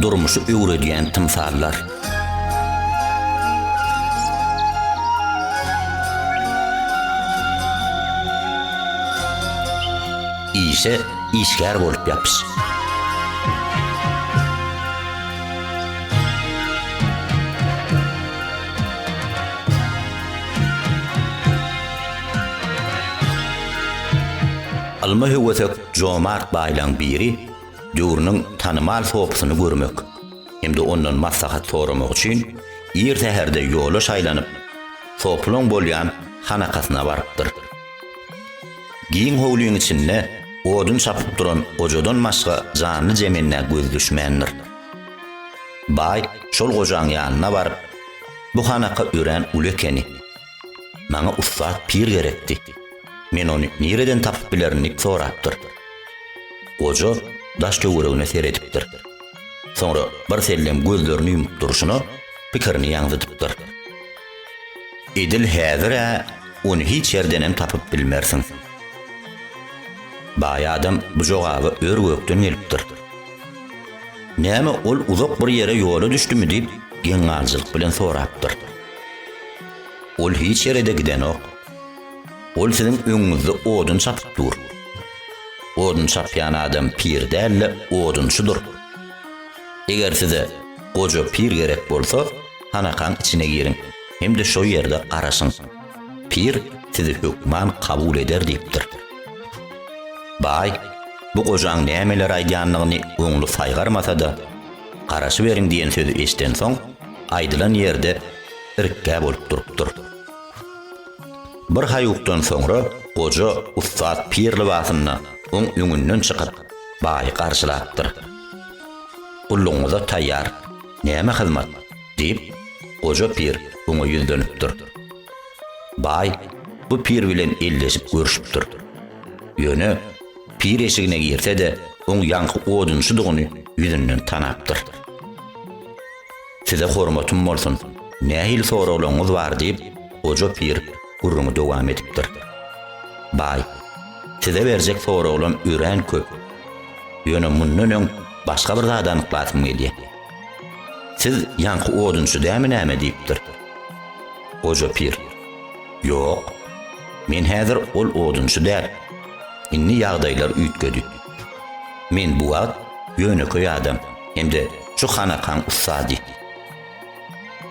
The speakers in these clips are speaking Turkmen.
durmuşy öwredýän tymsallar. Işe işgär bolup ýapyş. Ylma höwesek jomart baýlaň biri döwrüniň tanymal sopysyny görmek hem-de ondan maslahat soramak üçin ir säherde ýola şaýlanyp, sopylaň bolýan hanakasyna barypdyr. Giň howlyň içinde odun çapyp duran gojadan başga janly-jemende göz düşmändir. Baý şol gojaň ýanyna baryp, Bu hanaka örän uly ekeni. Maňa ussat pir gerekdi. Men ony nireden tapyp bilerin diýip sorapdyr. Goja daş-töweregine seredipdir. Soňra birsellem gözlerini ýumup durşuna pikirini ýaňzydypdyr. Edil häzir-ä ony hiç ýerdenem tapyp bilmersiň. Baý adam bu jogaby ör-gökden gelipdir. Näme ol uzak bir ýere ýola düşdümi diýip, geň-galyjylyk bilen sorapdyr. Ol hiç ýere-de gidenok. Ol siziň öňüňizde odun çapyp dur. Odun çapýan adam pir däl-de, odunçydyr. Eger size goja pir gerek bolsa, hanakaň içine giriň hem-de şo ýerde garaşyň. Pir sizi hökman kabul eder diýipdir. Baý bu gojaň nämeler aýdýanyny oňly saýgarmasa-da, garaşyberiň diýen sözi eşidensoň, aýdylan ýerde irkgä bolup durupdyr. Bir haýukdan soňra goja ussat pir lybasynda oň öňünden çykyp, baýy garşylapdyr. Gullugyňyza taýýar. Näme hyzmat? diýip, goja pir oňa ýüzlenipdir. Baý bu pir bilen elleşip görşüpdir. Ýöne pir eşigine girse-de, oň ýaňky odunçydygyny ýüzünden tanapdyr. Size hormatym bolsun, nähili soraglaryňyz bar? diýip, goja pir gürrüňi dowam edipdir. Baý, size berjek soraglam örän köp. Ýöne mundan öň Başga bir zady anyklasym gelýär. Siz ýaňky odunçy dämi näme diýipdir. Goja pir. Ýok. Men häzir ol odunçy däl. Indi ýagdaýlar üýtgedi. Men bu wagt ýönekeý adam hem-de şu hanakaň ussady.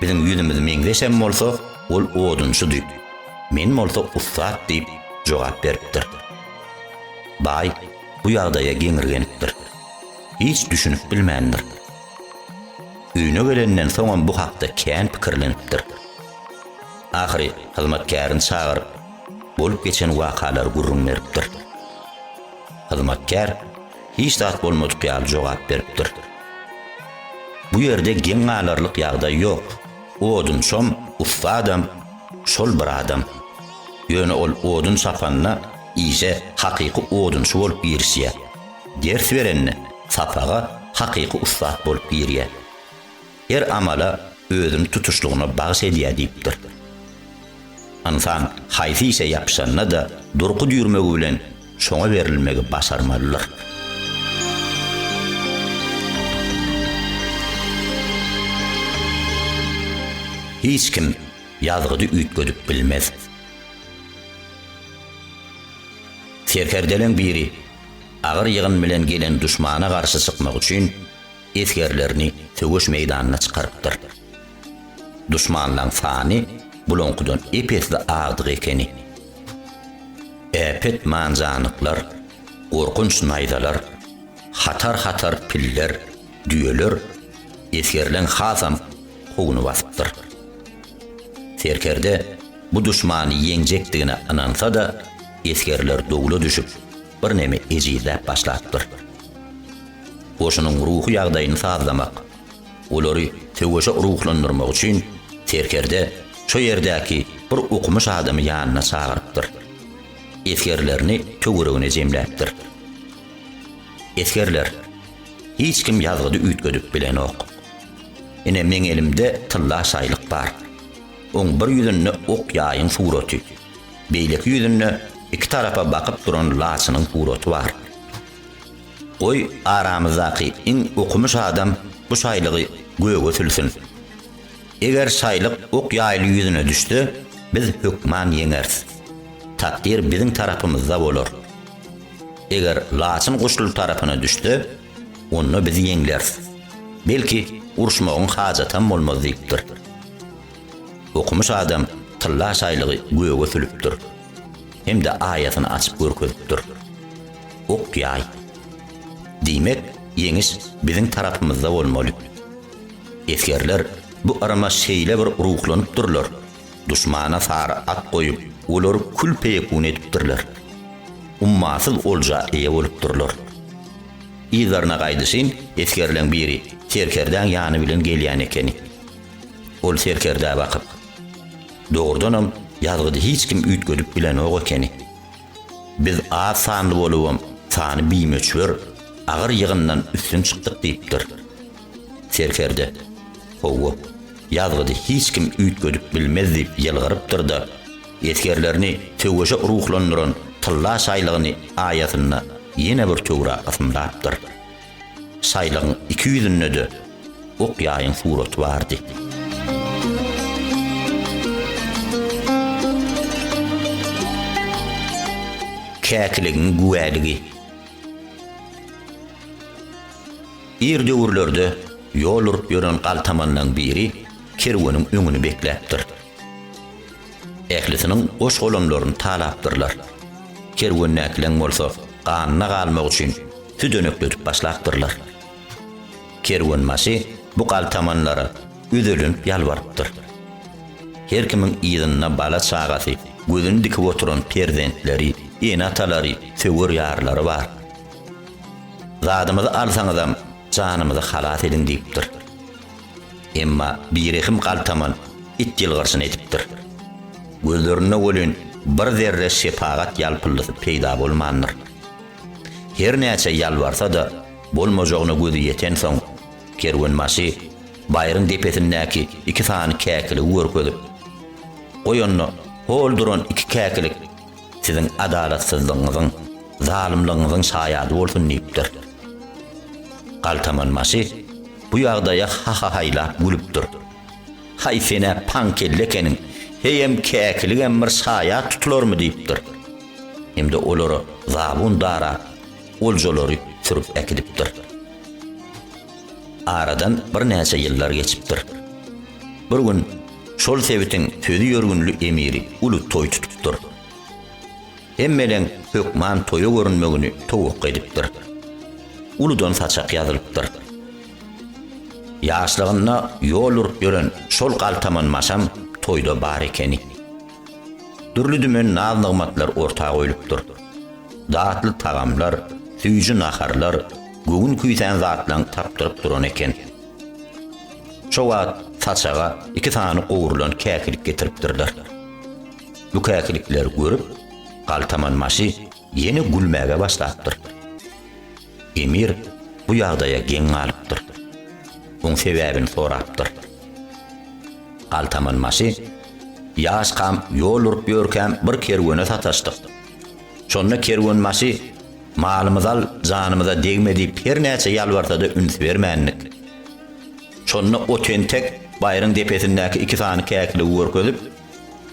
Biziň ýüzümiz meňzeşem bolsa, ol odunçydy. Men bolsa ussat diýip jogap beripdir. Baý. bu ýagdaýa geňirgenipdir. Hiç düşünip bilmändir. Öýüne gelenden soňam bu hakda kän pikirlenipdir. Ahyry hyzmatkärini çagyryp, bolup geçen wakalary gürrüň beripdir. Hyzmatkär hiç zat bolmadyk ýaly jogap beripdir. Bu ýerde geň galarlyk ýagdaý ýok. Odunçam, ussadam şol bir adam. Ýöne ol odun çapanda işe hakyky odunçy bolup girişýär. Ders berende sapaga hakyky ussat bolup girýär. Her amala özüni tutuşlygyna bagyş edýär diýipdir. Ynsan haýsy işe ýapyşanda-da durky düýrmegi bilen şoňa berilmegi başarmalydyr. Hiç kim ýazgydy üýtgedip bilmez. Serkerdeleriň biri agyr ýygyn bilen gelen duşmana garşy çykmak üçin esgerlerini söweş meýdanyna çykarypdyr. Duşmanlaň sany bulaňkydan ep-esli agdygy ekeni. Äpet manjanyklar, gorkunç naýzalar, hatar-hatar piller, düýeler esgerleň hasam kowuny basypdyr. Serkerde bu duşmany ýeňjekdigine ynansa-da, esgerler dowla düşüp, birneme ejizläp başlapdyr. Goşunyň ruhy ýagdaýyny sazlamak, olary söweşe ruhlandyrmak üçin serkerde şo ýerdäki bir okumyş adamy ýanyna çagyrypdyr. Esgerlerini töweregine jemläpdir. Esgerler, Hiç kim ýazgydy üýtgedip bilenok. Ine meň elimde tylla şaýlyk bar. Oň bir ýüzünde ok ýaýyň suraty, beýleki ýüzünde iki tarapa bakyp duran laçynyň suraty bar. Goý aramyzdaky iň okumyş adam bu şaýlygy göge sülsin. Eger şaýlyk ok ýaýly ýüzüne düşse, biz hökman ýeňeris. Takdyr biziň tarapymyzda bolar. Eger laçyn guşly tarapyna düşse, Onda biz ýeňleris. Belki, uruşmagyň hajatam bolmaz diýipdir. Okumyş adam tylla şaýlygy göge sülüpdir. Hem-de aýasyny açyp görkezipdir. Ok-ýaý. Diýmek, ýeňiş biziň tarapymyzda bolmaly. Esgerler bu yrama şeýle bir ruhlanypdyrlar, Duşmana sary at goýup, olary kül-peýekun edipdirler. Ummasyz olja eýe bolupdyrlar. Yzlaryna gaýdyşyn esgerleň biri serkerdäň ýany bilen gelýän ekeni. Ol serkerdä bakyp. Dogrudanam, ýazgydy hiç kim üýtgedip bilenok ekeni. Biz az sanly bolubam, sany bimöçber, agyr ýygyndan üstün çykdyk diýipdir. Serkerde, Hawa, ýazgydy hiç kim üýtgedip bilmez diýip ýylgyrypdyr-da, esgerlerini söweşe ruhlandyran tylla şaýlygyny aýasynda ýene bir töwra ysymlapdyr. Şaýlygyň iki ýüzünde-de ok-ýaýyň suraty bardy. Käkiligiň güwäligi. Ir döwürlerde ýol urup ýören galtamanlaň biri kerweniň öňüni bekläpdir. Ählisiniň goş-golamlaryny talapdyrlar. Kerwendäkileň bolsa ganyna galmak üçin südenekledip başlapdyrlar. Kerwenbaşy bu galtamanlara üzelenip ýalbarypdyr. Her kimiň yzynda bala-çagasy, gözüni dikip oturan perzentleri, ene-atalary, söwer ýarlary bar. Zadymyzy alsaňyzam, janymyzy halas ediň diýipdir. Emma birehim galtaman it ýylgyrşyny edipdir. Gözlerinde welin bir zerre şepagat ýalpyldysy peýda bolmandyr. Her näçe ýalbarsa-da, bolmajagyna gözi ýetensoň, kerwenbaşy baýryň depesindäki iki sany käkiligi görkezip, Goý onda, hol duran iki käkilik siziň adalatsyzlygyňyzyň, zalymlygyňyzyň şaýady bolsun diýipdir. Galtamanbaşy bu ýagdaýa hahahaýlap gülüpdir. Haý sen-ä paň kelle ekeniň, heýem käkiligem bir şaýat tutularmy diýipdir. Hem-de olara zabun darap, oljalary sürüp äkidipdir. Aradan birnäçe ýyllar geçipdir. Bir gün şol sebitiň sözi ýörgünli emiri uly toý tutupdyr. Hemmeleň hökman toýa görünmegini towakga edipdir. Uludan saçak ýazylypdyr. Ýaşlygynda ýol urup ýören şol galtaman maşam toýda bar ekeni. Dürli-dümen naz-nygmatlar orta goýlupdyr. Datly tagamlar, süýji naharlar, göwün küýsän zatlaň tapdyryp duran eken. Şo wagt saçaga iki sany gowrulan käkilik getiripdirler. Bu käkilikleri görüp, galtaman maşy ýene gülmäge başlapdyr. Emir bu ýagdaýa geň galypdyr. Oň sebäbini sorapdyr. Galtamanbaşy, Ýaşkam ýol urup ýörkäm bir kerwene sataşdyk. Şonda kerwenbaşy, Malymyzy al, janymyza degme diýip her näçe ýalbarsa-da üns bermändik. Şonda o tentek baýryň depesindäki iki sany käkiligi görkezip,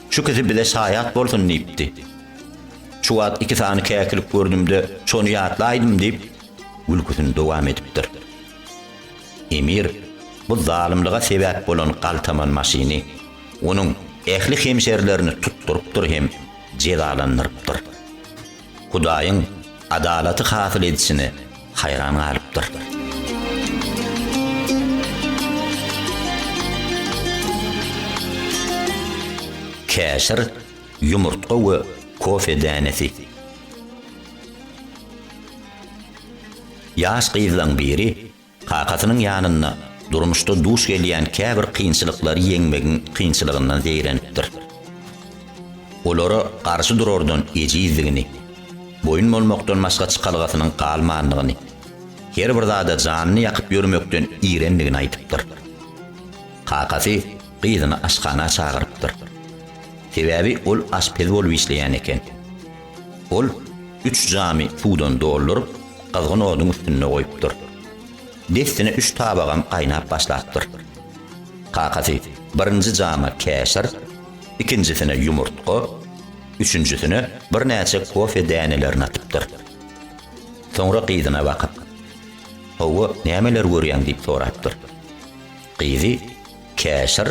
Şu ikisi bize şaýat bolsun diýipdi. Şu wagt iki sany käkilik gördüm-de, şony ýatlaýdym, diýip, gülküsini dowam edipdir. Emir bu zalymlyga sebäp bolan galtaman maşyny, onuň ähli hemşerilerini tutdurypdyr hem jezalandyrypdyr. Hudaýyň adalaty hasyl edişine haýran galypdyr. Käşir, ýumurtga we kofe dänesi. Ýaş gyzlaň biri Kakasynyň ýanynda durmuşda duş gelýän käbir kynçylyklary ýeňmegiň kynçylygyndan zeýrenipdir. Olara garşy durardan ejizdigini, boýun bolmakdan başga çykalgasynyň galmandygyny, her bir zada janyny ýakyp ýörmekden irendigini aýdypdyr. Kakasy gyzyny aşhana çagyrypdyr. Sebäbi ol aşpez bolup işleýän eken. Ol üç jamy suwdan dolduryp, gyzgyn oduň üstünde goýupdyr. Dessine üç tabagam gaýnap başlapdyr. Kakasy birinji jama käşir, ikinjisine ýumurtga, üçünjisine birnäçe kofe dänelerini atypdyr. Soňra gyzyna bakyp, Hawa, nämeler görýäň? diýip sorapdyr. Gyzy Käşir,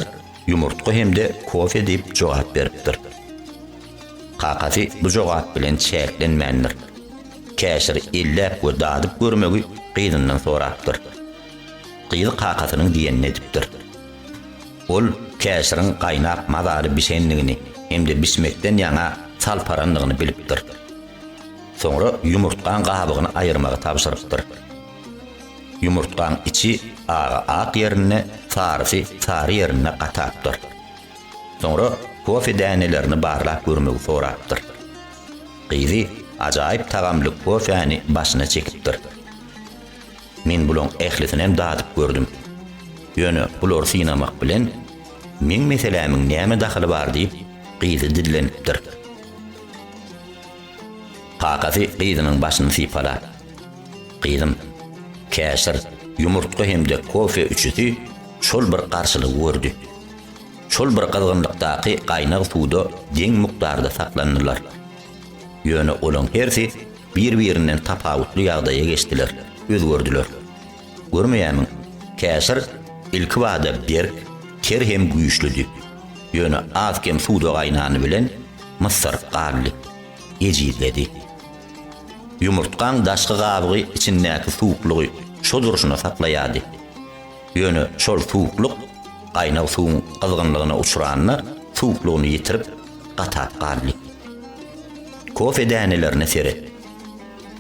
ýumurtga hem-de kofe diýip jogap beripdir. Kakasy bu jogap bilen çäklenmändir. Käşiri elläp we dadyp görmegi gyzyndan sorapdyr. Gyzy kakasynyň diýenini edipdir. Ol käşiriň gaýnap mazaly bişendigini hem-de bişmekden ýaňa salparandygyny bilipdir. Soňra ýumurtgaň gabygyny aýyrmagy tabşyrypdyr. Ýumurtgaň içi agy ak ýerinde, sarysy sary ýerinde gatapdyr. Soňra kofe dänelerini barlap görmegi sorapdyr. Gyzy ajaýyp tagamly kofäni başyna çekipdir. Men bulaň ählisinem dadyp gördüm. Ýöne bulary synamak bilen meň meselämiň näme dahyly bar diýip, gyzy dillenipdir. Kakasy gyzynyň başyny sypalap. Gyzym, käşir, ýumurtga hem-de kofe üçüsi şol bir garşylygy gördi. Şol bir gyzgynlykdaky gaýnag suwda deň mukdarda saklandylar. Ýöne olaň hersi bir-birinden tapawutly ýagdaýa geçdiler, özgerdiler. Görmeýärmiň, käşir ilkibada berk, ter hem güýçlüdi. Ýöne az-kem suwda gaýnany bilen myssaryp galdy. Ejizledi. Ýumurtgaň daşky gabygy içindäki suwuklygy şo durşuna saklaýardy. Ýöne şol suwuklyk gaýnag suwuň gyzgynlygyna uçranda suwuklygyny ýitirip, gatap galdy. Kofe dänelerine seret.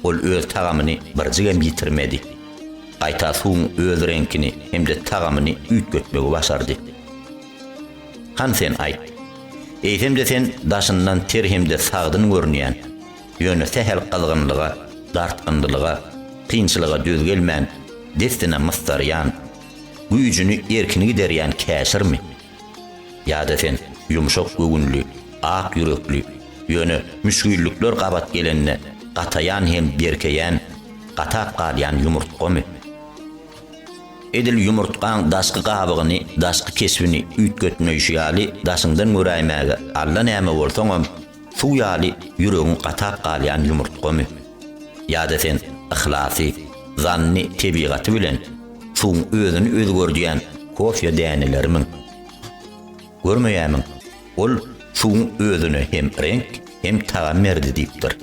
Ol öz tagamyny birjigem ýitirmedi. Gaýta suwuň öz reňkini hem-de tagamyny üýtgetmegi başardy. Han sen aýt. Eýsem-de sen daşyndan ter hem-de sagdyn görünýän, ýöne sähel gyzgynlyga, dartgynlylyga, kynçylyga döz gelmän, dessine mysdarýan, güýjüni erkini giderýän käşirmi? Ýa-da sen ýumşak göwünli, ak ýürekli, ýöne müşgillikler gabat gelende gataýan hem berkeýän, gatap galýan ýumurtgamy? Edil ýumurtgaň daşky gabygyny, daşky keşbini üýtgetmeýşi ýaly daşyňdan göräýmäge allanäme bolsaňam, suw ýaly ýüregiň gatap galýan ýumurtgamy? Ýa-da sen yhlasy, zanny tebigaty bilen, Suwuň özüni özgerdýän kofýa dänelerimiň? Görmeýärmiň, ol suwuň özüne hem reňk, hem tagam berdi diýipdir.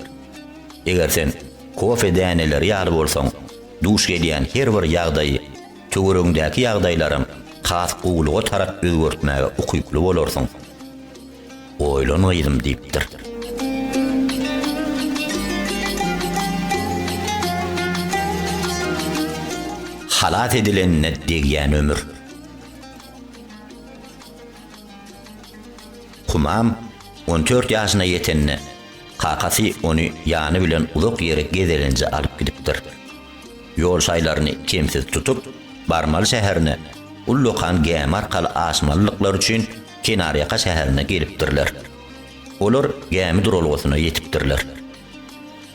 Eger sen kofýa däneleri ýaly bolsaň, duş gelýän her bir ýagdaýy töweregiňdäki ýagdaýlaram has gowulyga tarap özgertmäge ukyply bolarsyň. Oýlan gyzym diýipdir. Halas edilenine degýän ömür. Humam on dört ýaşyna ýetende, kakasy ony ýany bilen uzak ýere gezelenje alyp gidipdir. Ýol şaýlaryny kemsiz tutup, barmaly şäherine ullakan gämi arkaly aşmalydyklary üçin, kenarýaka şäherine gelipdirler. Olar gämi duralgasyna ýetipdirler.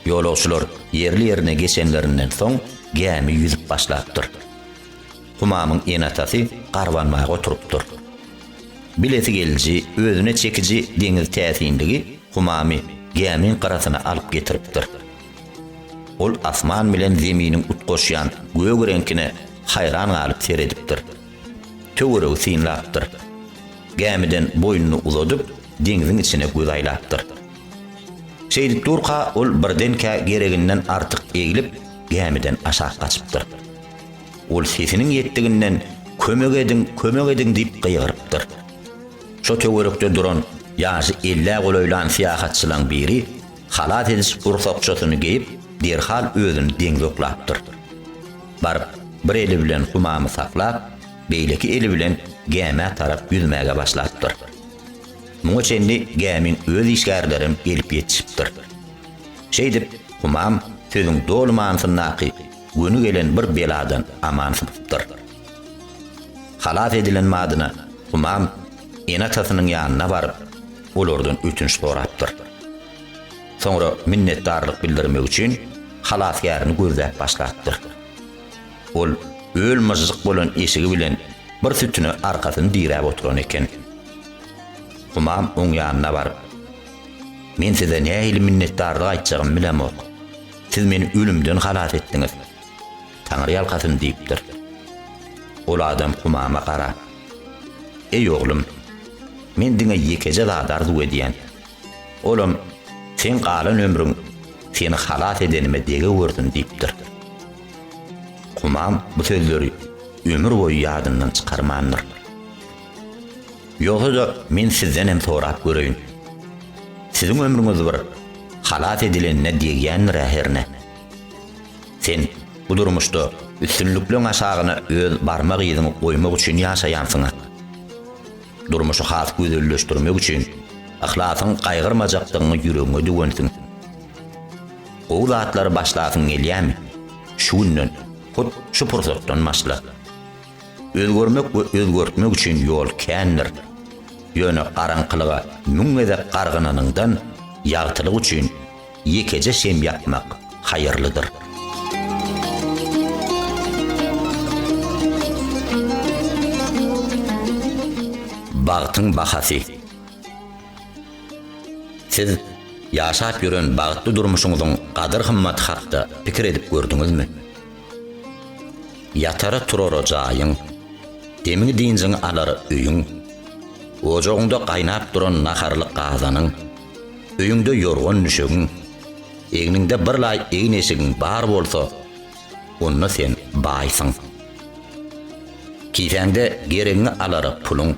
Ýolagçylar ýerli-ýerine geçenlerinden soň gämi ýüzüp başlapdyr. Humamyň ene-atasy garbanmaga oturypdyr. Bilesi geliji, özüne çekiji deňiz täsinligi Humamy gämiň gyrasyna alyp getiripdir. Ol asman bilen zeminiň utgaşýan gök reňkine haýran galyp seredipdir. töweregi synlapdyr. Gämiden boýnuny uzadyp, deňziň içine göz aýlapdyr. Şeýdip durka, ol birdenkä gereginden artyk eglip, gämiden aşak gaçypdyr. Ol sesiniň ýetdiginden Kömek ediň, kömek ediň diýip gygyrypdyr. Şo töwerekde duran ýaşy ellä golaýlan syýahatçylaň biri halat ediş gursakçasyny geýip, derhal özüni deňze oklapdyr. baryp, bir eli bilen humamy saklap, beýleki eli bilen gämä tarap ýüzmäge başlapdyr. Muňa çenli gämiň öz işgärlerem gelip ýetişipdir. Şeýdip, humam sözüň doly manysyndaky göni gelen bir beladan aman sypypdyr. Halas edilen badyna humam ene-atasynyň ýanyna baryp, olardan ötünç sorapdyr. Soňra minnetdarlyk bildirmek üçin halasgärini gözläp başlapdyr. Ol öl myžžyk bolan eşigi bilen bir sütüne arkasyny diräp oturan eken. Humam oň ýanyna baryp, Men size nähili minnetdarlyk aýtjagymy bilemok. Siz meni ölümden halas etdiňiz. Taňry ýalkasyn diýipdir. Ol adam Humama garap, Eý oglum, men diňe ýekeje zat arzuw edýän. Olam, Seň galan ömrüň seni halas edenime degewörsin diýipdir. Humam bu sözleri ömür boýy ýadyndan çykarmandyr. Ýogsa-da men sizden hem sorap göreýin. Siziň ömrüňiz bir halas edilenine degýändir-ä hernä? Sen bu durmuşda üstünlikleň aşagyna öz barmak yzyňy goýmak üçin ýaşaýansyň-a. Durmuşy has gözelleşdirmek üçin yhlasyň gaýgyrmajakdygyňy ýüregiňe düwensiň. Gowy zatlary başlasyň gelýärmi? Şu günden, hut şu pursatdan başla. Özgermek we özgertmek üçin ýol kändir. Ýöne garaňkylyga müň gezek gargynanyňdan, ýagtylyk üçin ýekeje şem ýakmak haýyrlydyr. Bagtyň bahasy. Siz ýaşap ýören bagtly durmuşyňyzyň gadyr-gymmaty hakda pikir edip gördüňizmi? Ýatara-turara jaýyň, demiň-dynjyňy alar öýüň, ojagyňda gaýnap duran naharlyk gazanyň, Öýüňde ýorgan-düşegiň, egniňde bir laý egin-eşigiň bar bolsa, onda sen baýsyň. Kisäňde geregiňi alara puluň,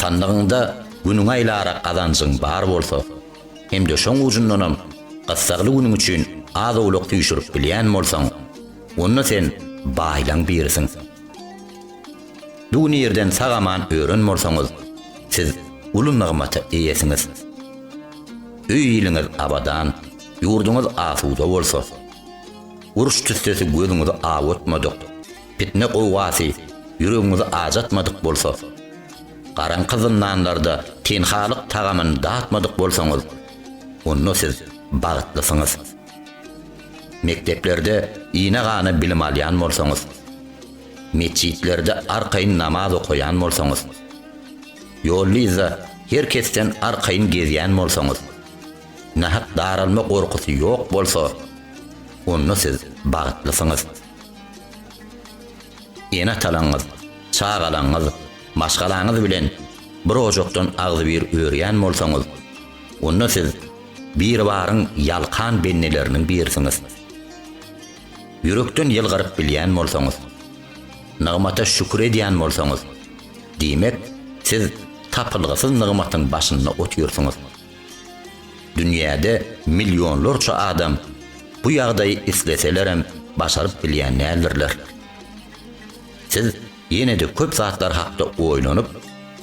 sandygyňda günüňi aýlara gazanjyň bar bolsa hem-de şoň ujundanam gyssagly günüň üçin az-owlak süýşürip bilýän bolsaň, onda sen baýlaň birisiň. Dunýerden sag-aman ören bolsaňyz, siz uly nygmata eýesiňiz. Öý-iliňiz abadan, ýurduňyz asuda bolsa. Uruş tüssesi gözüňizi awutmadyk, pitne gowgasy ýüregiňizi ajatmadyk bolsa. Garaňky zyndanlarda tenhalyk tagamyny datmadyk bolsaňyz, onda siz bagtlysyňyz. Mekdeplerde ine-gana bilim alýan bolsaňyz, Metjitlerde arkaýyn namaz okaýan bolsaňyz, ýollyzda her kesden arkaýyn gezýän bolsaňyz, nahak daralma gorkusy ýok bolsa, onda siz bagtlysyňyz. Ene-atalaňyz, çagalaňyz, maşgalaňyz bilen bir ojakdan agzybir örýän bolsaňyz, onda siz Biribaryň ýalkan bendeleriniň birisiňiz. Ýürekden ýylgyryp bilýän bolsaňyz, nygmata şükür edýän bolsaňyz, diýmek, siz tapylgysyz nygmatyň başynda otyrsyňyz. Dünýäde millionlarça adam bu ýagdaýy isleselerem başaryp bilýän däldirler. Siz Ýene-de köp zatlar hakda oýlanyp,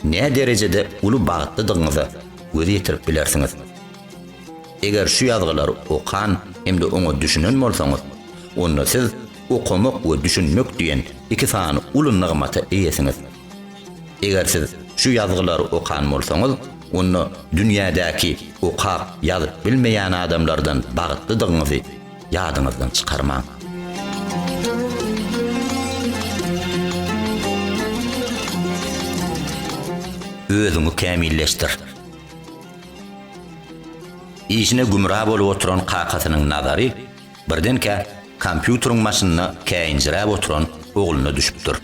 nä derejede uly bagtlydygyňyza göz ýetirip bilersiňiz. Eger şu ýazgylary okan hem-de oňa düşünen bolsaňyz, onda siz okamak we düşünmek diýen iki sany uly nygmata eýesiňiz. Eger siz şu ýazgylary okan bolsaňyz, onda dünýädäki okap, ýazyp bilmeýän adamlardan bagtlydygyňyzy, ýadyňyzdan çykarmaň. özüňi kämilleşdir. Işine gümra bolup oturan kakasynyň nazary birdenkä kompýuteriň başynda käýinjiräp oturan ogluna düşüpdir.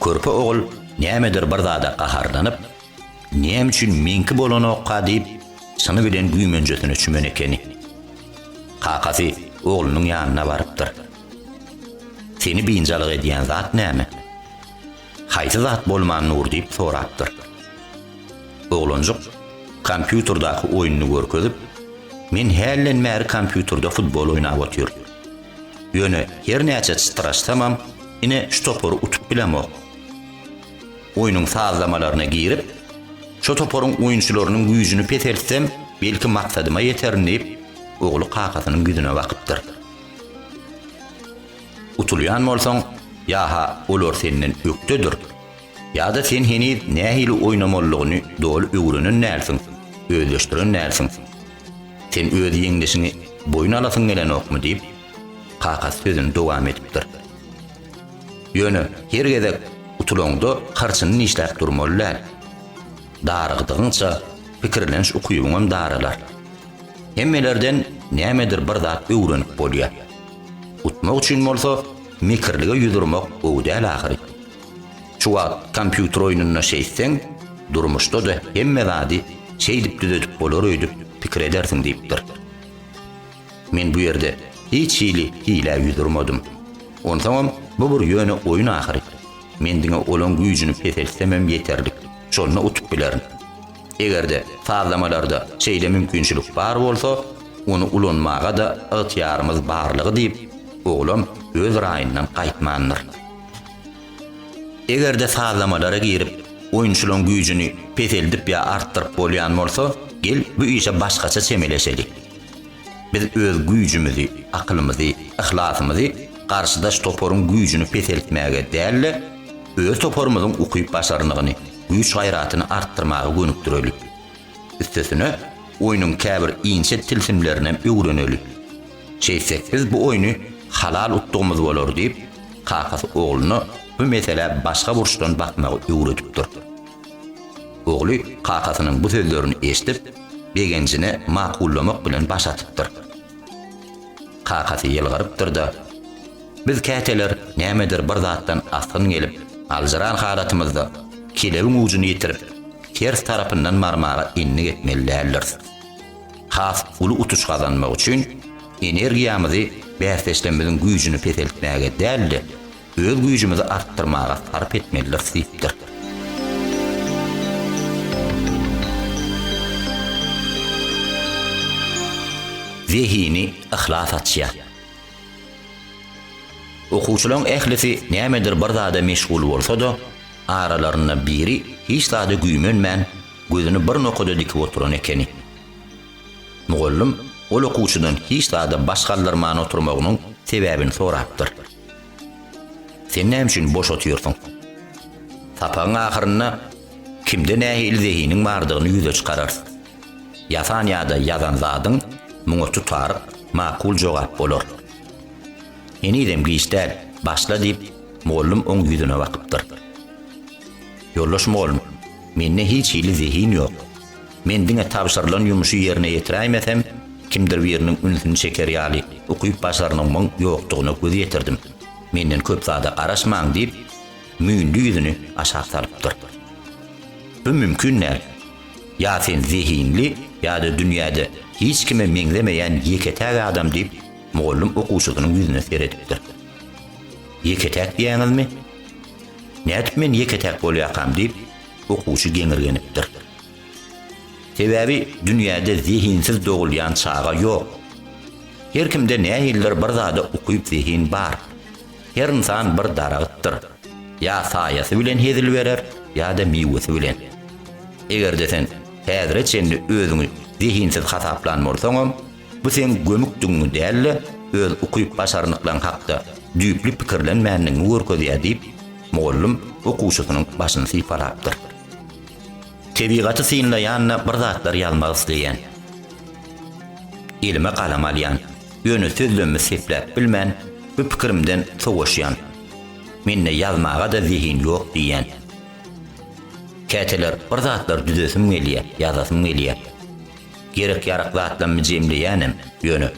Körpe ogul nämedir bir zada gaharlanyp, Näme üçin meňki bolanokka diýip, çyny bilen güýmenjesine çümen ekeni. Kakasy oglunyň ýanyna barypdyr. Seni biynjalyk edýän zat näme? Haýsy zat bolman Nur diýip sorapdyr. Oglanjyk kompýuterdaky oýnuny görkezip, Men hälden bäri kompýuterde futbol oýnap otyryn. Ýöne hernäçe çytraşsamam, ine şu topary utup bilemok. Oýnuň sazlamalaryna girip, şo toparyň oýunçylarynyň güýjüni peseltsem, belki maksadyma ýeterin diýip, ogly kakasynyň ýüzüne bakypdyr. Utulýan bolsaň, ýa-ha olar senden ökdedir, ýa-da sen heniz nähili oýnamalydygyny doly öwrenen dälsiň, özleşdiren dälsiň. Sen öz ýeňlişiňi boýun alasyň gelenokmy? diýip, kakasy sözüni dowam edipdir. Ýöne, her gezek utulaňda harçyny dişläp durmaly däl. Darygdygyňça, pikirleniş ukybyňam daralar. Hemmelerden nämedir bir zat öwrenip bolýar. Utmak üçin bolsa, mekirlige ýüz urmak gowy däl ahyry. Şu wagt kompýuter oýnunda şeýtseň, durmuşda-da hemme zady şeýdip düzedip bolar öýdüp pikir edersiň diýipdir. Men bu ýerde hiç hili hilä ýüz urmadym. Onsoňam, bu bir ýöne oýun ahyry. Men diňe olaň güýjüni peseltsemem ýeterlik, şonda utup bilerin. Eger-de sazlamalarda şeýle mümkinçilik bar bolsa, ony ulanmaga-da ygtyýarymyz barlygy diýip, oglan öz raýyndan gaýtmandyr. Eger-de sazlamalara girip, oýunçylaň güýjüni peseldip ýa artdyryp bolýan bolsa, gel, bu işe başgaça çemeleşeli. Biz öz güýjümizi, akylymyzy, yhlasymyzy garşydaş toparyň güýjüni peseltmäge däl-de, öz toparymyzyň ukyp-başarnygyny, güýç-gaýratyny artdyrmaga gönükdireli. Üstesine, oýnuň käbir inçe tilsimlerinem öwreneli. Şeýtsek biz bu oýny halal utdugymyz bolar diýip, kakasy ogluna bu meselä başga burçdan bakmagy öwredipdir. Ogly kakasynyň bu sözlerini eşidip, begenjine makullamak bilen baş atypdyr. Kakasy ýylgyrypdyr-da, Biz käteler nämedir bir zatdan asgyn gelip, aljyran halatymyzda kelebiň ujuny ýitirip, ters tarapyndan barmaga endik etmeli däldiris. Has uly utuş gazanmak üçin energiýamyzy bäsdeşlerimiziň güýjüni peseltmäge däl-de, Öz güýjümizi artdyrmaga sarp etmelidiris diýipdir. Zehini yhlas açýar. Okuwçylaryň ählisi nämedir bir zada meşgul bolsa-da, aralarynda biri hiç zada güýmenmän, gözüni bir nokada dikip oturan ekeni. Mugallym ol okuwçydan hiç zada baş galdyrman oturmagynyň sebäbini sorapdyr. Sen näme üçin boş otyrsyň? Sapagyň ahyrynda kimde nähili zehiniň bardygyny ýüze çykararys. Ýasan ýa-da ýazan zadyň muňa tutaryk, makul jogap bolar. Henizem giç däl, başla diýip, mugallym oň ýüzüne bakypdyr. Ýoldaş mugallym, mende hiç hili zehin ýok. Men diňe tabşyrylan ýumuşy ýerine ýetiräýmesem, kimdir biriniň ünsüni çeker ýaly ukyp-başarnygymyň ýokdugyna göz ýetirdim. Menden köp zada garaşmaň, diýip, Müýnli ýüzüni aşak salypdyr. Bu mümkin däl. Ýa sen zehinli, ýa-da dünýäde hiç kime meňzemeýän ýeke-täk adam, diýip, mugallym okuwçysynyň ýüzüne seredipdir. Ýeke-täk diýýäňizmi? Nädip men ýeke-täk bolýakam? diýip, okuwçy geňirgenipdir. Sebäbi dünýäde zehinsiz dogulýan çaga ýok. Her kimde nähilidir bir zada ukyp zehin bar. Her ynsan bir daragtdyr. Ýa saýasy bilen hezil berer, ýa-da miwesi bilen. Eger-de sen häzire çenli özüňi zehinsiz hasaplan bolsaňam, bu seň gömükdigiňi däl-de, öz ukyp başarnyklaň hakda düýpli pikirlenmändigiňi görkezýär diýip, mugallym okuwçysynyň başyny sypalapdyr. Tebigaty synlaýanda bir zatlar ýazmak isleýän. Elime galam alýan. Ýöne sözlemimi sepläp bilmän, bu pikirimden sowaşýan. Mende ýazmaga-da zehin ýok diýýän. Käteler bir zatlar düzesim gelýär, ýazasym gelýär. Gerek-ýarak zatlarymy jemleýänem, ýöne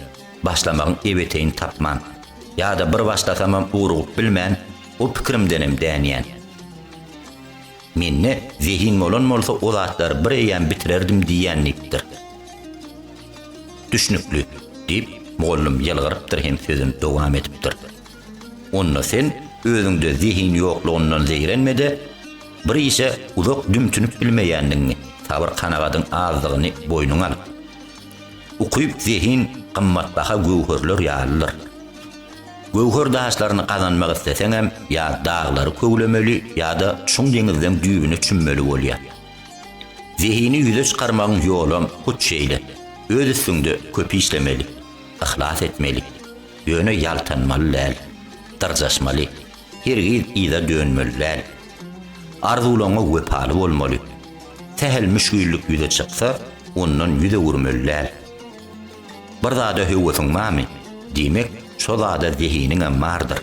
başlamagyň ebeteýini tapman. Ýa-da bir başlasamam urugyp bilmän, o pikirimdenem dänýän. Mende zehin bolan bolsa o zatlary bir eýýäm bitirerdim diýýän diýipdir. Düşnükli, diýip, mugallym ýylgyrypdyr hem sözüni dowam edipdir. Onda sen özüňde zehin ýoklugyndan zeýrenme-de, bir işe uzak dümtünip bilmeýändigiňi, sabyr-kanagadyň azdygyny boýnuňa al. Ukyp zehin gymmatbaha göwherler ýalydyr. Göwher daşlaryny gazanmak isleseňem ýa daglary köwlemeli ýa-da çuň deňizden düýbüne çümmeli bolýar. Zehini ýüze çykarmagyň ýolam hut şeýle, öz üstüňde köp işlemeli, yhlas etmeli, ýöne ýaltanmaly däl, dyrjaşmaly. Hergiz yza dönmeli däl. Arzuwlaryňa wepaly bolmaly. Sähel müşgillik ýüze çyksa, ondan ýüz öwürmeli däl. Bir zada höwesiň barmy? Diýmek, şo zada zehiniňem bardyr.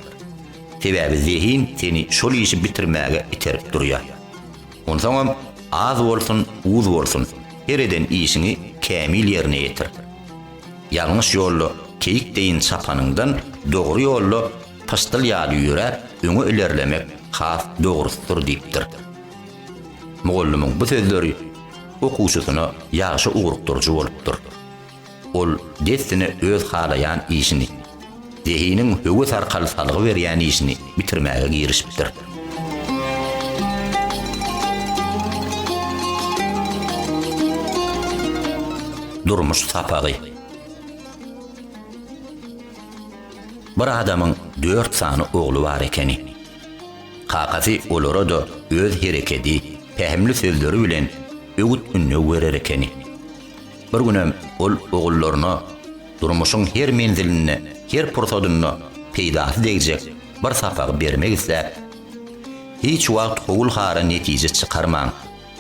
Sebäbi zehin seni şol işi bitirmäge iterip durýar. Onsoňam, az bolsun, uz bolsun, her eden işiňi kämil ýerine ýetir. Ýalňyş ýolda keýik deýin çapanyňdan, dogry ýolda, Pyşdyl ýaly ýöräp, öňe ilerlemek has dogrusydyr diýipdir. Mugallymyň bu sözleri okuwçysyna ýagşy ugrukdyryjy bolupdyr. Ol dessine öz halaýan işini, zehiniň höwes arkaly salgy berýän işini bitirmäge girişipdir. Durmuş sapagy. Bir adamyň dört sany ogly bar ekeni. Kakasy olara-da öz herekedi, pähimli sözleri bilen öwüt-ündew berer ekeni. Bir günem ol ogullaryna durmuşyň her menzilinde, her pursadynda peýdasy degjek bir sapagy bermek isläp, Hiç wagt howul-hara netije çykarmaň,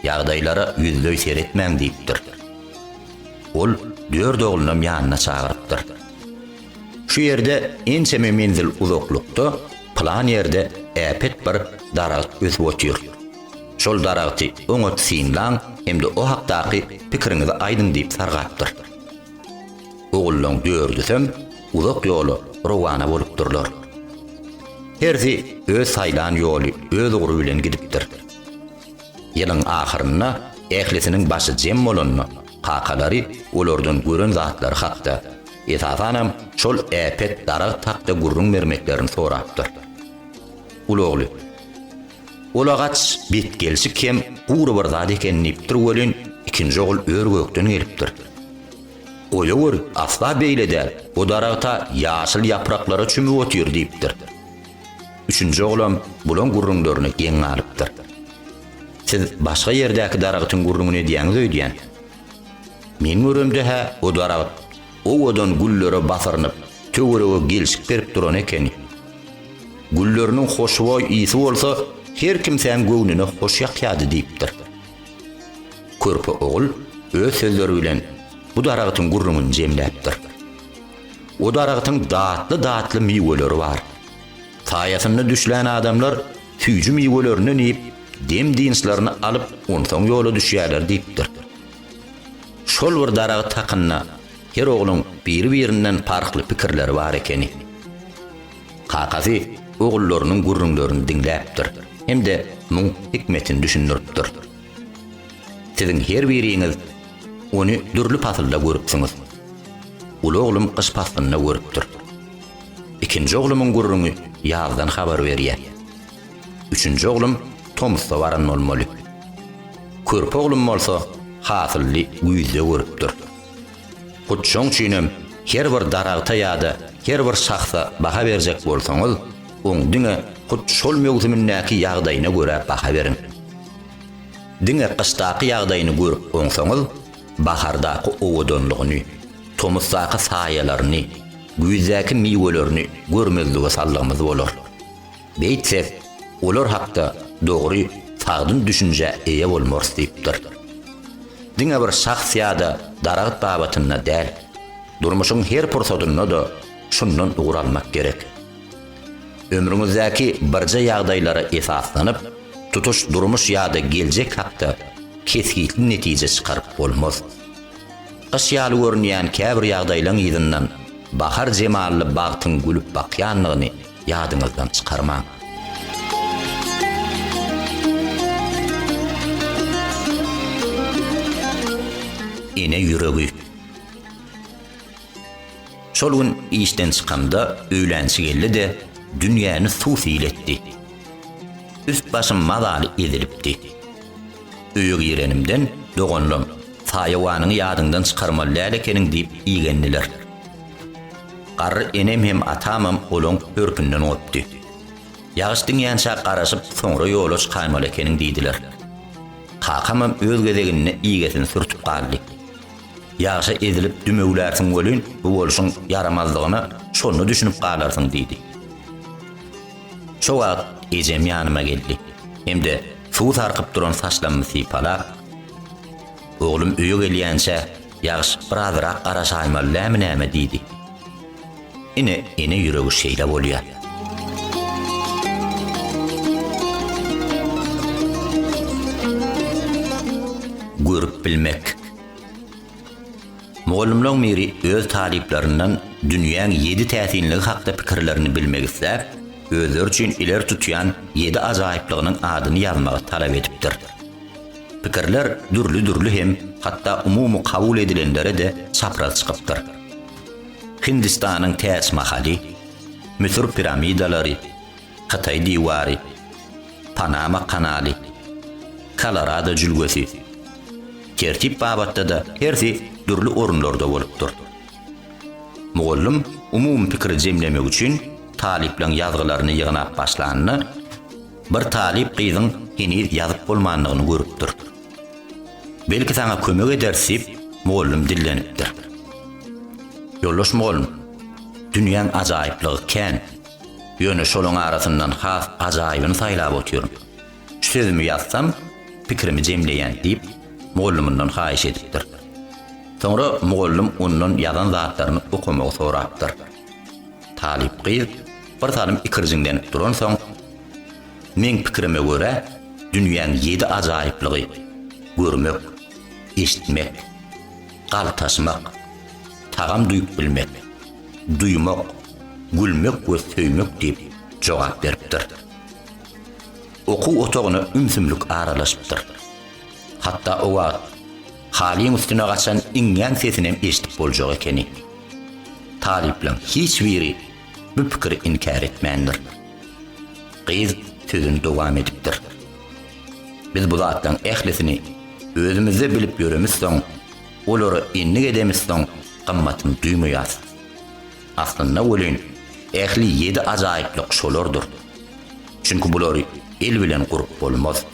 ýagdaýlara ýüzleý seretmäň diýipdir. Ol dört oglunam ýanyna çagyrypdyr. Şu ýerde ençeme menzil uzaklykda pylan ýerde äpet bir daragt ösüp otyr. Şol daragty oňat synlaň hem-de o hakdaky pikiriňizi aýdyň diýip sargapdyr. Ogullaň dördüsem uzak ýola rowana bolupdyrlar. Hersi öz saýlan ýoly, öz ugry bilen gidipdir. Ýylyň ahyrynda ählisiniň başy jem bolanda, Kakalary olardan gören zatlary hakda, esasanam şol äpet daragt hakda gürrüň bermeklerini sorapdyr. Uly ogly, Ulagaç betgelşik hem gury bir zat eken diýipdir welin, ikinji ogul ör-gökden gelipdir. Goýaweri, asla beýle däl, bu daragta ýaşyl ýapraklara çümüp otyr diýipdir. Üçünji oglam bulaň gürrüňlerine geň galypdyr. Siz başga ýerdäki daragtyň gürrüňini edýäňiz öýdýän. Men göremde-hä o daragt owadan güllere basyrynyp, töwerege gelşik berip duran ekeni. Gülleriniň hoşboý ysy bolsa her kimsäň göwnüne hoş ýakýardy diýipdir. Körpe ogul öz sözleri bilen bu daragtyň gürrüňini jemläpdir. O daragtyň datly-datly miweleri bar. Saýasynda düşlän adamlar Süýji miwelerinden iýip, dem-dynçlaryny alyp, onsoň ýola düşýärler diýipdir. Şol bir daragat hakynda her ogluň biri-birinden parhly pikirleri bar ekeni. Kakasy ogullarynyň gürrüňlerini diňläpdir hem-de muň hikmetini düşündiripdir. Siziň her biriňiz ony dürli pasylda görüpsiňiz. Uly oglum gyş paslynda görüpdir. Ikinji oglumyň gürrüňi ýazdan habar berýär. Üçünji oglum tomusda baran bolmaly. Körpe oglum bolsa hasylly güýzde görüpdir. Hut şoň üçinem her bir daragta ýa-da her bir şahsa baha berjek bolsaňyz, oň diňe hut şol möwsümindäki ýagdaýyna görä baha beriň. Diňe gyşdaky ýagdaýyny görüp oňsaňyz, bahardaky owadanlygyny, tomusdaky saýalaryny, güýzdäki miwelerini görmezlige saldygymyz bolar. Beýtsek, olar hakda dogry, sagdyn düşünjä eýe bolmarys diýipdir. Diňe bir şahs ýa-da daragt babatynda däl, durmuşyň her pursadynda-da şundan ugur almak gerek. Ömrüňizdäki birje ýagdaýlara esaslanyp, tutuş durmuş ýa-da geljek hakda kesgitli netije çykaryp bolmaz. Gyş ýaly görünýän käbir ýagdaýlaň yzyndan bahar jemally bagtyň gülüp bakýanlygyny ýadyňyzdan çykarmaň. Ene ýüregi. Şol gün işden çykamda öýlänçi geldi-de, dünýäni suw-sil etdi. Üst-başym mazaly ezilipdi. Öýe girenimden, doganlam, Saýawanyňy ýadyňdan çykarmaly däl ekeniň diýip igendiler. Garry enem hem atamam olaň hörpünden gopdy. Ýagyş diňýänçä garaşyp, soňra ýola çykaýmaly ekeniň diýdiler. Kakamam öz gezeginde igesini sürtüp galdy. Ýagşa ezilip dümewlärsiň welin, bu bolşuň ýaramazlygyna şonda düşünip galarsyň diýdi. Şo wagt ejem ýanyma geldi hem-de suw sarkyp duran saçlarymy sypalap, Oglum öýe gelýänçä ýagyş birazyrak garaşaýmaly dämi näme diýdi. Ine ene ýüregi şeýle bolýar. Görüp bilmek. Mugallymlaryň biri öz talyplaryndan dünýäň ýedi täsinligi hakda pikirlerini bilmek isläp, özleri üçin ileri tutýan ýedi ajaýyplygynyň adyny ýazmagy talap edipdir. Pikirler dürli-dürli hem hatda umumy kabul edilenlere-de çapraz çykypdyr. Hindistanyň Täç Mahaly, Müsür piramidalary, Hytaý diwary, Panama kanaly, Kolorado jülgesi, tertip babatda-da hersi dürli orunlarda bolupdyr. Mugallym umumy pikiri jemlemek üçin talyplaryň ýazgylaryny ýygnap başlanda, bir talyp gyzyň heniz ýazyp bolmandygyny görüpdir. Belki saňa kömek ederis diýip, mugallym dillenipdir. Ýoldaş mugallym, dünýäň ajaýyplygy kän. Ýöne şolaň arasyndan has ajaýybyny saýlap otyryn. Şu sözümi ýazsam, pikirimi jemleýän, diýip, mugallymyndan haýyş edipdir. Soňra mugallym ondan ýazan zatlaryny okamagy sorapdyr. Talyp gyz bir salym ikirjiňlenip duransoň, Meň pikirime görä, dünýäň ýedi ajaýyplygy, görmek, eşitmek. Galtaşmak, tagam duýup bilmek, duýmak, gülmek we söýmek diýip jogap beripdir. Okuw otagyna ümsümlik aralaşypdyr. Hatda o wagt Halyň üstüne gaçan iňňän sesinem eşidip boljak ekeni. Talyplaň hiç biri bu pikiri inkär etmändir. Gyz sözüni dowam edipdir. Biz bu zatlaryň ählisini özümizde bilip ýöremizsoň, olara endik edemizsoň, gymmatyny duýmaýarys. Aslynda welin, ähli ýedi ajaýyplyk şolardyr. Çünki bulary el bilen gurup bolmaz,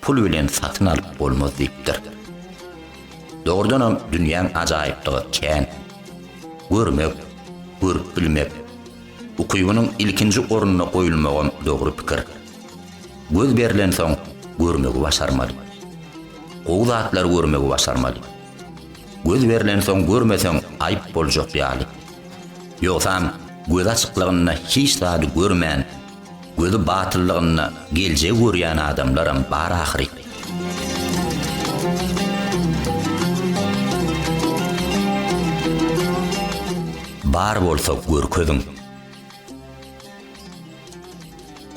pul bilen satyn alyp bolmaz diýipdir. Dogrudanam, dünýäň ajaýyplygy kän. Görmek, görüp bilmek, ukybynyň ilkinji orunda goýulmagam dogry pikir. Göz berlensoň, görmegi başarmaly. Gowy zatlary görmegi başarmaly. Göz berlensoň görmeseň aýyp boljak ýaly. Ýogsam, gözi açyklygynda hiç zady görmän, gözi batyllygynda geljegi görýän adamlaram bar ahyry. Bar bolsa görkeziň.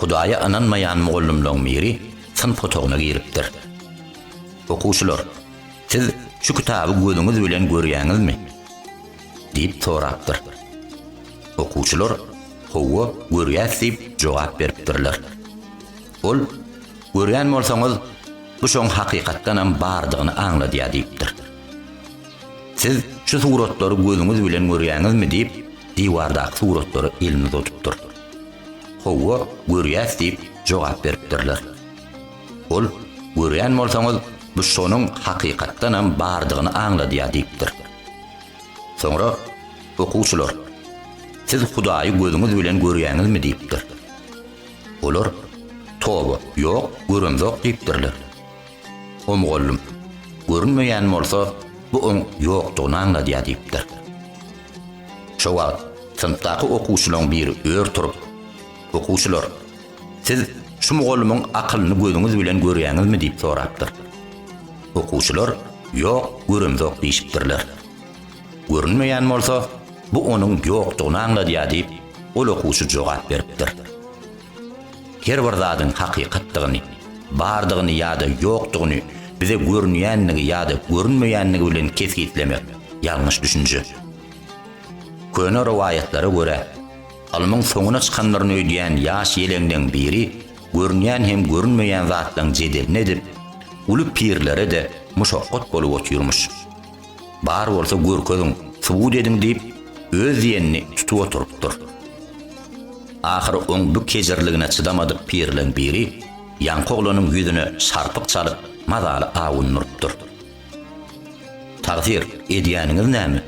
Hudaýa ynanmaýan mugallymlaryň biri synp otagyna giripdir. Okuwçylar, siz şu kitaby gözüňiz bilen görýäňizmi? diýip sorapdyr. Okuwçylar, Howwa, görýäs diýip jogap beripdirler. Ol, Görýän bolsaňyz, bu şoň hakykatdanam bardygyny aňladýar diýipdir. Siz şu suratlary gözüňiz bilen görýäňizmi, diýip, diwardaky suratlara elini uzatupdyr. Howwa, görýäs, diýip, jogap beripdirler. Ol, Görýän bolsaňyz, bu şonuň hakykatdanam bardygyny aňladýar, diýipdir. Soňra, Okuwçylar, siz Hudaýy gözüňiz bilen görýäňizmi? diýipdir. Olar, Toba, ýok, göremzok, diýipdirler. O mugallym, Görünmeýän bolsa, bu oň ýokdugyny aňladýar diýipdir. Şo wagt synpdaky okuwçylaryň biri ör turup, Okuwçylar, siz şu mugallymyň akylyny gözüňiz bilen görýäňizmi diýip sorapdyr. Okuwçylar, Ýok, göremzok diýşipdirler. Görünmeýän bolsa, bu onuň ýokdugyny aňladýar diýip, ol okuwçy jogap beripdir. Her bir zadyň hakykatdygyny, bardygyny ýa-da ýokdugyny bize görünýändigi ýa-da görünmeýändigi bilen kesgitlemek ýalňyş düşünje. Köne rowaýatlara görä, ylmyň soňuna çykandyryny öýdýän ýaş ýeleňleň biri görünýän hem görünmeýän zatlaň jedelini edip, uly pirlere-de muşakgat bolup otyrmyş. Bar bolsa görkeziň, subut ediň diýip, öz diýenini tutup oturypdyr. Ahyry oň bu kejirligine çydamadyk pirleň biri ýaňky oglanyň ýüzüne şarpyk çalyp, mazaly awundyrypdyr. Tagsyr, edýäniňiz näme?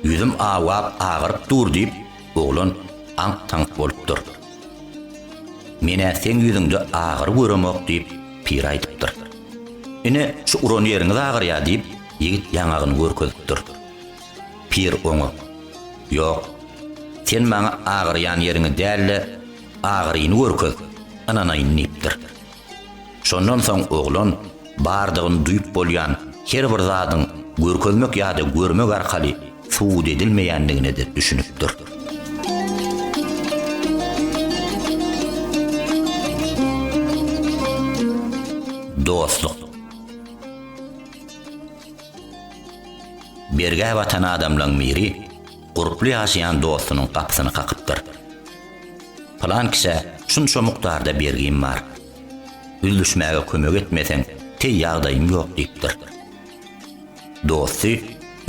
Ýüzüm awgap, agyryp dur diýip, Oglan aňk-taňk bolup dur. Men-ä seň ýüzüňde agyry göremok diýip, pir aýdypdyr. Ine, şu uran ýeriňiz agyrýar diýip, ýigit ýaňagyny görkezipdir. Pir oňa, Ýok, sen maňa agyrýan ýeriňi däl-de, agyryny görkez, ynanaýyn diýipdir. Şondan soň oglan bardygyny duýup bolýan her bir zadyň görkezmek ýa-da görmek arkaly subut edilmeýändigine-de düşünipdir. Dostluk. Bergä batan adamlaryň biri gurply ýaşaýan dostunyň gapysyny kakypdyr. Pylan kişä şunça mukdarda bergim bar. Üzlüşmäge kömek etmeseň, teý ýagdaýym ýok diýipdir. Dosty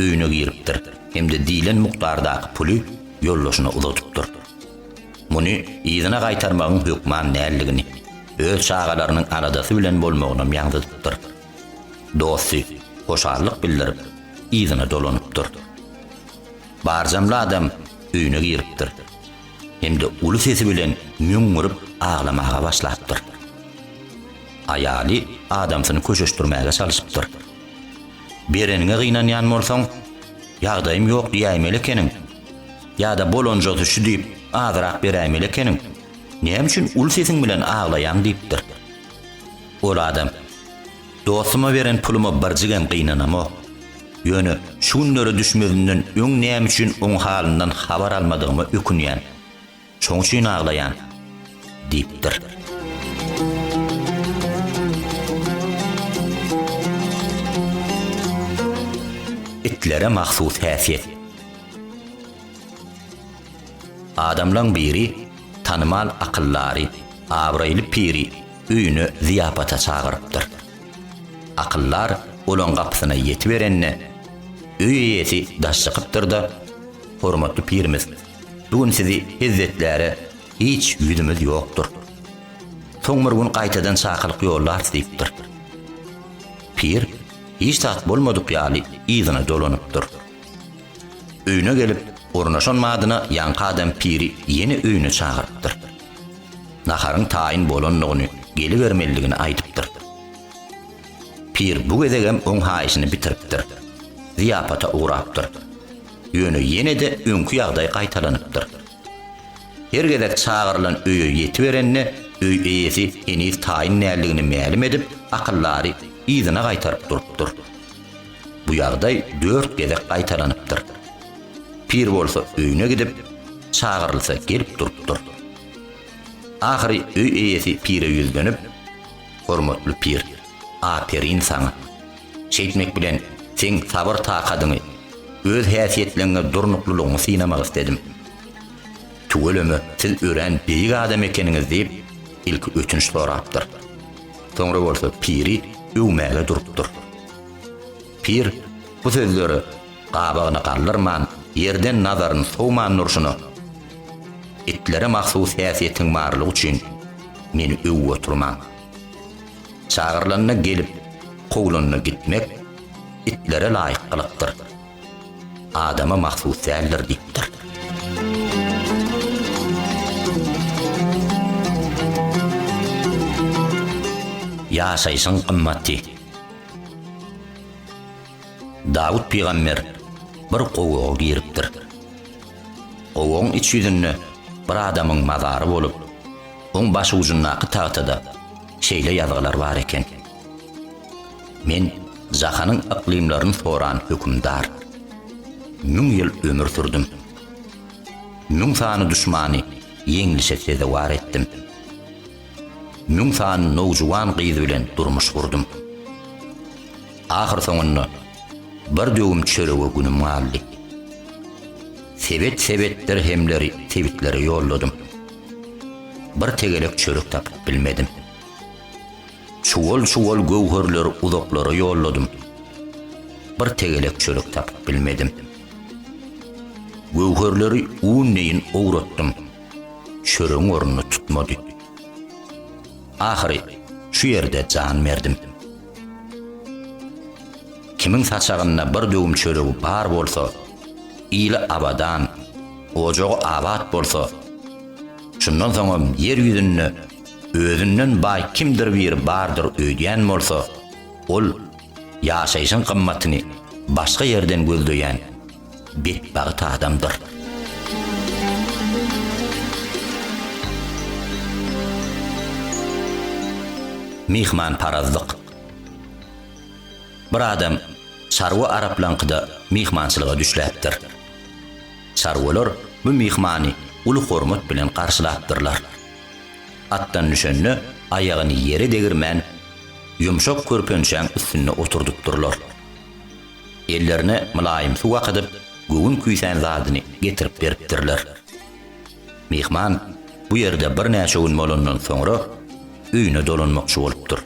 öýüne giripdir hem-de diýlen mukdardaky puly ýoldaşyna uzadypdyr. Muny yzyna gaýtarmagyň hökman däldigini, öz çagalarynyň aladasy bilen bolmagynam ýaňzydypdyr. Dosty hoşallyk bildirip, yzyna dolanypdyr. Barjamly adam öýüne giripdir hem-de uly sesi bilen müňňürip aglamaga başlapdyr. Aýaly adamsyny köşeşdirmäge çalyşypdyr. Bereniňe gynanýan bolsaň, ýagdaýym ýok diýäýmeli ekeniň. Ýa-da bolanjasy şu diýip, azrak beräýmeli ekeniň. Näme üçin uly sesiň bilen aglaýaň diýipdir. Ol adam. Dostuma beren puluma birjigem gynanamok. Ýöne şu günlere düşmezinden öň näme üçin oň halyndan habar almadygyma ökünýän. Şoň üçin aglaýan, diýipdir. Itlere mahsus häsiýet. Adamlaň biri, tanymal akyldary, abraýly piri, öýüne zyýapata çagyrypdyr. Akyldar olaň gapysyna ýetiberende, öý eýesi daş çykypdyr-da, Hormatly pirimiz, bu gün sizi hezzetläre hiç ýüzümiz ýokdur. Soň bir gün gaýtadan çakylyk ýollarys diýipdir. Pir hiç zat bolmadyk ýaly yzyna dolanypdyr. Öýüne gelip, ornaşan badyna ýaňky adam piri ýene öýüne çagyrypdyr. Naharyň taýyn bolandygyny, gelibermelidigini aýdypdyr. Pir bu gezegem oň haýyşyny bitiripdir. Zyýapata ugrapdyr. Ýöne ýene-de öňki ýagdaý gaýtalanypdyr. Her gezek çagyrylan öýe ýetiberende, öý eýesi heniz taýyn däldigini mälim edip, akyldary yzyna gaýtaryp durupdyr. Bu ýagdaý dört gezek gaýtalanypdyr. Pir bolsa öýüne gidip, çagyrylsa gelip durupdyr. Ahyry öý eýesi pire ýüzlenip, Hormatly pir, aperin saňa! Şeýtmek bilen seň sabyr-takadyňy, öz häsiýetleňňe durnuklylygyňy synamak isledim. Tüweleme siz örän beýik adam ekeniňiz diýip, ilki ötünç sorapdyr. Soňra bolsa piri öwmäge durupdyr. Pir bu sözleri gabagyna galdyrman, ýerden nazaryny sowman durşuna, Itlere mahsus häsiýetiň barlygy üçin meni öwüp oturmaň. Çagyrylanda gelip, kowlanda gitmek itlere laýyk gylykdyr. Adama mahsus däldir diýipdir. Ýaşaýşyň gymmaty. Dawut pygamber bir gowaga giripdir. Gowagyň iç ýüzünde bir adamyň mazary bolup, oň başujundaky tagtada şeýle ýazgylar bar eken, Men jahanyň yklymlaryny soran hökümdar. Müň ýyl ömür sürdüm. Müň sany duşmany ýeňlişe sezewar etdim. Müň sany nowjuwan gyz bilen durmuş gurdum. Ahyrsoňunda bir döwüm çörege günüm galdy. Sebet-sebet dirhemleri sebitlere ýolladym. Bir tegelek çörek tapyp bilmedim. Çuwal-çuwal göwherleri uzaklara ýolladym. Bir tegelek çörek tapyp bilmedim. Göwherleri un deýin owratdym. çöregiň ornuny tutmady. Ahyry şu ýerde jan berdim. Kimiň saçagynda bir döwüm çöregi bar bolsa, ili abadan, ojagy abat bolsa, şundan soňam ýer ýüzünde özünden baý kimdir biri bardyr öýdýän bolsa, ol ýaşaýşyň gymmatyny başga ýerden gözleýän betbagt adamdyr. Myhmanparazlyk. Bir adam çarwa araplaňkyda myhmançylyga düşläpdir. Çarwalar bu myhmany uly hormat bilen garşylapdyrlar. Atdan düşende aýagyny ýere degirmän, ýumşak körpençäň üstünde oturdypdyrlar. Ellerine mylaýym suw akydyp, göwün küýsän zadyny getirip beripdirler. Myhman bu ýerde birnäçe gün bolandan soňra, öýüne dolanmakçy bolupdyr.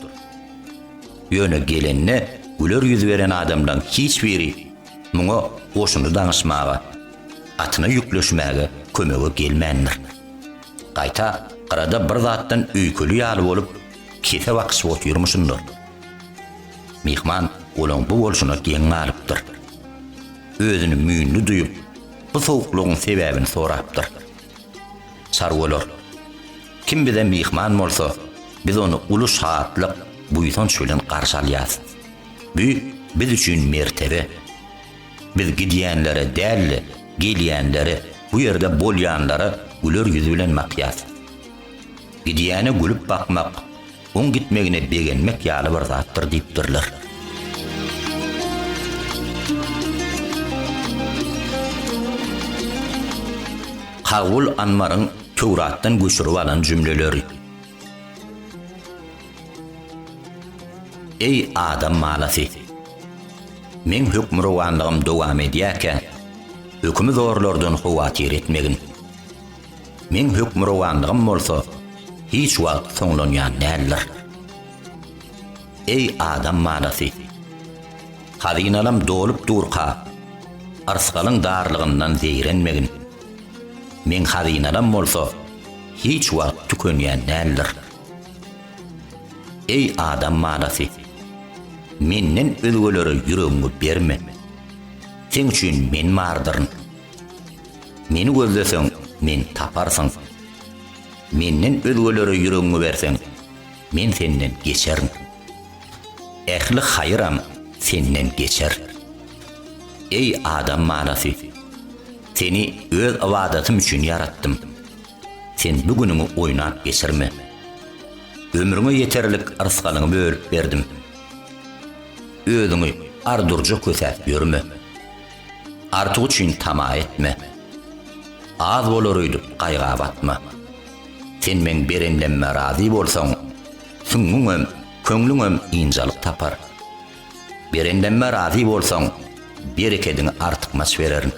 Ýöne gelende güler ýüz beren adamlaň hiç biri muňa goşuny daňyşmaga, atyna ýükleşmäge kömege gelmändir. Gaýta gyrada bir zatdan öýkeli ýaly bolup, kese bakyşyp otyrmyşyndyr. Myhman olaň bu bolşuna geň galypdyr. Özüni müýnli duýup, bu sowuklygyň sebäbini sorapdyr. Çarwalar, Kim bize myhman bolsa, biz ony uly şatlyk, buýsanç bilen garşy alýarys. Bu biz üçin mertebe. Biz gidýänlere däl-de, gelýänlere, bu ýerde bolýanlara güler ýüz bilen bakýarys. Gidýäne gülüp bakmak, oň gitmegine begenmek ýaly bir zatdyr diýipdirler. Kawul Anmaryň Töwratdan göçürip alan jümleleri. Eý, adam balasy! Meň hökmürowanlygym dowam edýärkä, hökümzorlardan howatyr etmegin. Meň hökmürowanlygym bolsa hiç wagt soňlanýan däldir. Eý, adam balasy! Hazynalam dolup durka, yrsgalyň darlygyndan zeýrenmegin. Meň hazynalam bolsa hiç wagt tükenýän däldir. Eý, adam balasy! Menden özgelere ýüregiňi berme. Seň üçin Men bardyryn. Meni gözleseň, meni taparsyň. Menden özgelere ýüregiňi berseň, men senden geçerin. Ähli haýyram senden geçer. Eý, adam balasy! Seni Öz ybadatym üçin ýaratdym. Sen bu günüňi oýnap geçirme. Ömrüňe ýeterlik rysgalyňy bölüp berdim. Özüňi ar-durja kösäp ýörme. Artyk üçin tama etme. Az bolar öýdüp gaýga batma. Sen meň berenlemme razy bolsaň, süňňüňem, köňlüňem ynjalyk tapar. Berenlemme razy bolsaň, berekediňi artykmaç bererin.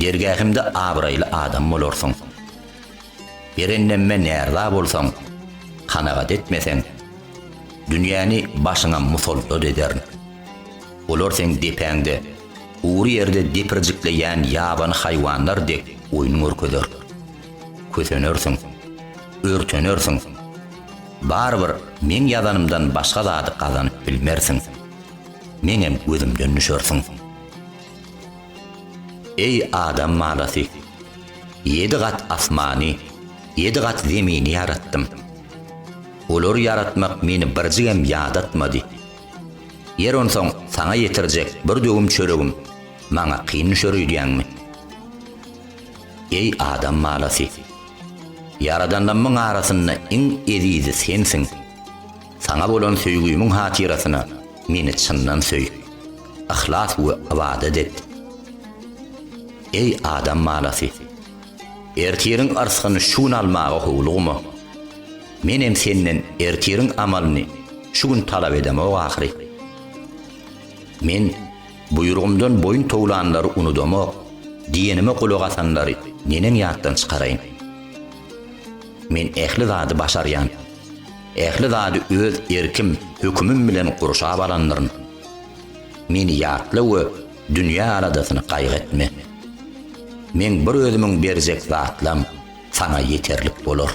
Dergähimde abraýly adam bolarsyň. Berenlemme närza bolsaň, kanagat etmeseň, dünýäni başyňa musallat ederin. Olar seň depäňde, gury ýerde depirjikleýän ýabany haýwanlar dek oýun görkezer. Kösenersiň. Örtenersiň. Barybir meň ýazanymdan başga zady gazanyp bilmersiň. Meňem gözümden düşersiň. Eý, adam balasy! Ýedi gat asmany, ýedi gat zemini ýaratdym. Olary ýaratmak meni birjigem ýadatmady. Ýer onsoň saňa ýetirjek bir döwüm çöregim maňa kyn düşer öýdýäňmi? Eý adam balasy! Ýaradanlamyň arasynda iň ezizi sensiň. Saňa bolan söýgümiň hatyrasyna meni çyndan söý, yhlas we ybadat et. Eý adam balasy! Ertiriň yrsgyny şu gün almaga howlugma. Menem senden ertiriň amalyny şu gün talap edemok ahyry. Men buýrugymdan boýun towlanlary unudamok, diýenime gulak asanlary neneň ýatdan çykaraýyn. Men ähli zady başarýan. Ähli zady öz erkim, hökümim bilen gurşap alandyryn. Meni ýatla we Dünýä aladasyny gaýgy etme. Meň bir özümiň berjek zatlam saňa ýeterlik bolar.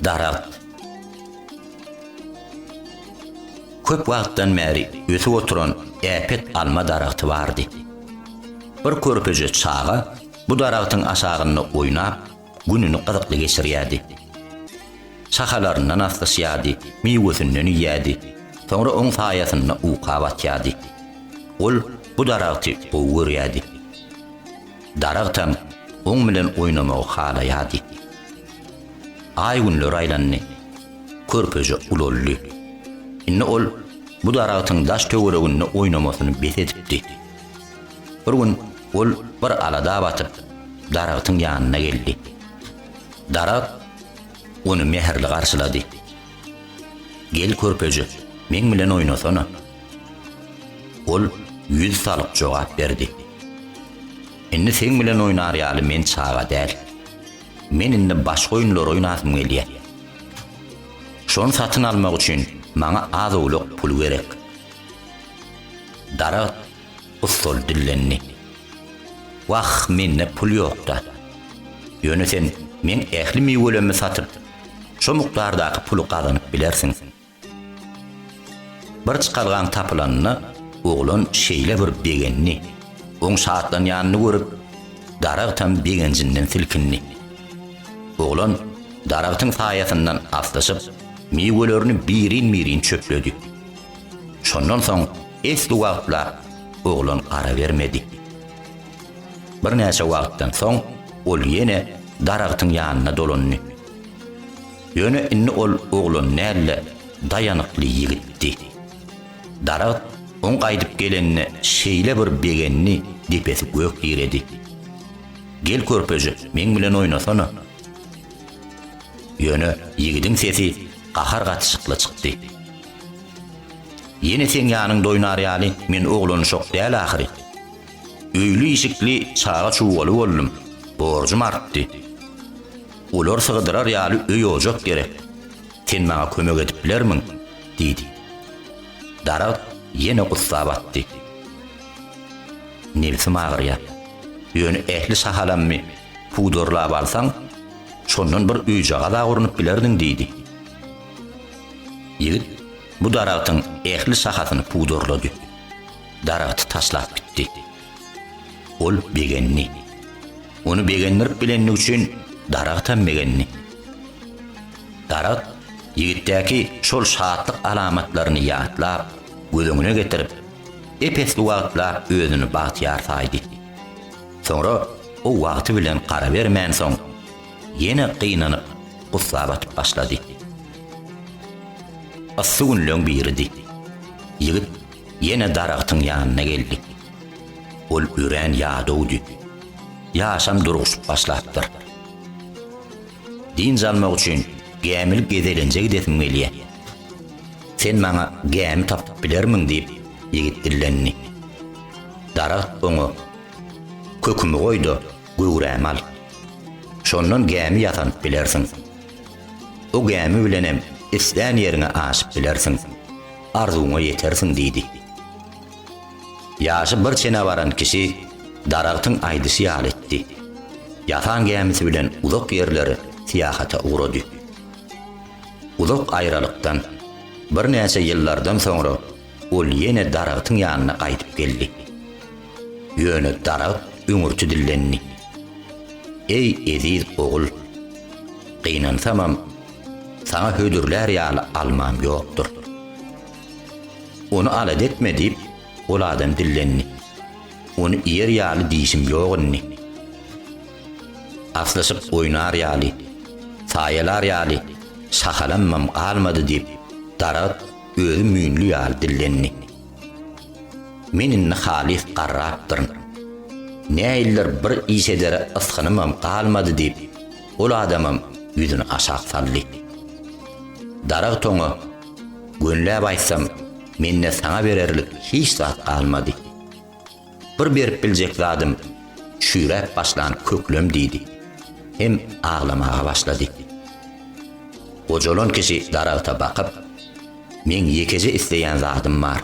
Daragt. Köp wagtdan bäri ösüp oturan äpet alma daragty bardy. Bir körpeje çaga bu daragtyň aşagynda oýnap, gününi gyzykly geçirýärdi. Şahalaryndan aslyşýardy, miwesinden iýýärdi, soňra oň saýasynda uka batýardy. Ol bu daragty gowy görýärdi. Daragtam oň bilen oýnamagy halaýardy. Aý-günler aýlandy. Körpeje ulaldy. Indi ol bu daragtyň daş-töwereginde oýnamasyny bes edipdi. Bir gün Ol bir alada batyp, daragtyň ýanyna geldi. Daragt ony mähirli garşylady. Gel körpeje, meň bilen oýnasana. Ol ýüz salyp jogap berdi. Indi seň bilen oýnar ýaly men çaga däl. Men indi başga oýunlar oýnasym gelýär. Şony satyn almak üçin maňa az-owlak pul gerek. Daragt Ussal dillendi. Wah, mende pul ýok-da. Ýöne sen meň ähli miwelerimi satyp, şo mukdardaky puly gazanyp bilersiň. Bir çykalgaň tapylanyna oglan şeýle bir begendi, oň şatlanýanyny görüp, daragtam begenjinden silkindi. Oglan daragtyň saýasyndan aslyşyp, miwelerini birin-birin çöpledi. Şondan soň esli wagtlar oglan gara bermedi. Birnäçe wagtdan soň ol ýene daragtyň ýanyna dolandy. Ýöne indi ol oglan däl-de, daýanykly ýigitdi. Daragt oň gaýdyp gelenine şeýle bir begendi, depesi gök diredi. Gel körpejik, meň bilen oýnasana! Ýöne ýigidiň sesi gahar gatyşykly çykdy. Ýene seň ýanyň doýnar ýaly men oglanyşok däl ahyry. Öýli-işikli çaga-çugaly boldum, borjum artdy. Olar sygdyrar ýaly öý-ojak gerek. Sen maňa kömek edip bilermiň? diýdi. Daragt ýene gussa batdy. Nebsim agyrýar. Ýöne ähli sahalammy pudurlap alsaň, şondan bir öýjagaz-a gurnup bilerdiň, diýdi. Ýigit bu daragtyň ähli şahasyny pudurlady. Daragty taşlap gitdi. Ol begendi. Ony begendirip bilenligi üçin daragtam begendi. Daragt ýigitdäki şol şatlyk alamatlaryny ýatlap, göz öňüne getirip, ep-esli wagtlap özüni bagtyýar saýdy. Soňra o wagty bilen garabermänsoň, Ýene gynanyp, gussa batyp başlady. Yssy günleň biridi. Ýigit ýene daragtyň ýanyna geldi. Ol örän ýadawdy. Ýaşam durguşyp başlapdyr. Dynç almak üçin gämili gezelenje gidesim gelýär. Sen maňa gämi tapyp bilermiň? diýip, ýigit dillendi. Daragt oňa, Kökümi goý-da, göwräme al. Şondan gämi ýasanyp bilersiň. O gämi bilenem islän ýeriňe aşyp bilersiň, arzuwyňa ýetersiň diýdi. Ýaşy bir çene baran kişi daragtyň aýdyşy ýaly etdi. Ýasan gämisi bilen uzak ýerlere syýahata ugrady. Uzak aýralykdan, birnäçe ýyllardan soňra Ol ýene daragtyň ýanyna gaýdyp geldi. Ýöne daragt üňürti dillendi. Eý, eziz ogul, gynansamam, saňa hödürlär ýaly almam ýokdur. Ony alada etme diýip, ol adam dillendi. Ony iýer ýaly dişim ýok indi. Aslyşyp oýnar ýaly, saýalar ýaly şahalamam galmady diýip, daragt özi müýnli ýaly dillendi. Men indi halys garrapdyryn. Näildir bir iş edere ysgynymam galmady diýip, ol adamam ýüzüni aşak saldy. Darag toňa, Gönläp aýtsam, mende saňa bererlik hiç zat galmady. Bir berip biljek zadym çüýräp başlan köklem diýdi. Hem aglamaga başlady. Gojalan kişi daragta bakyp, Meň ýekeje isleýän zadym bar.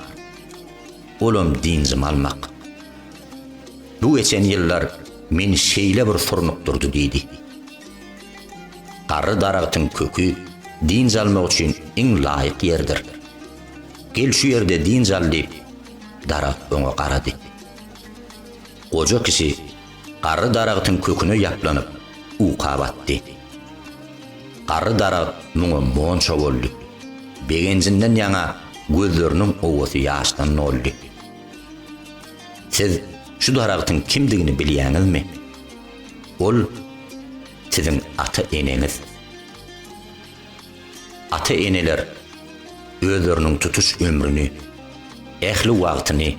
Olam dynjymy almak. Bu geçen ýyllar meni şeýle bir surnukdyrdy diýdi. Garry daragtyň köki dynç almak üçin iň laýyk ýerdir. Gel şu ýerde dynç al diýip, daragt oňa garady. Goja kişi garry daragtyň köküne ýaplanyp, uka batdy. Garry daragt muňa monça boldy. Begenjinden ýaňa gözleriniň owasy ýaşdan doldy. Siz şu daragtyň kimdigini bilýäňizmi? Ol siziň ata-eneňiz. Ata-eneler özleriniň tutuş ömrüni, ähli wagtyny,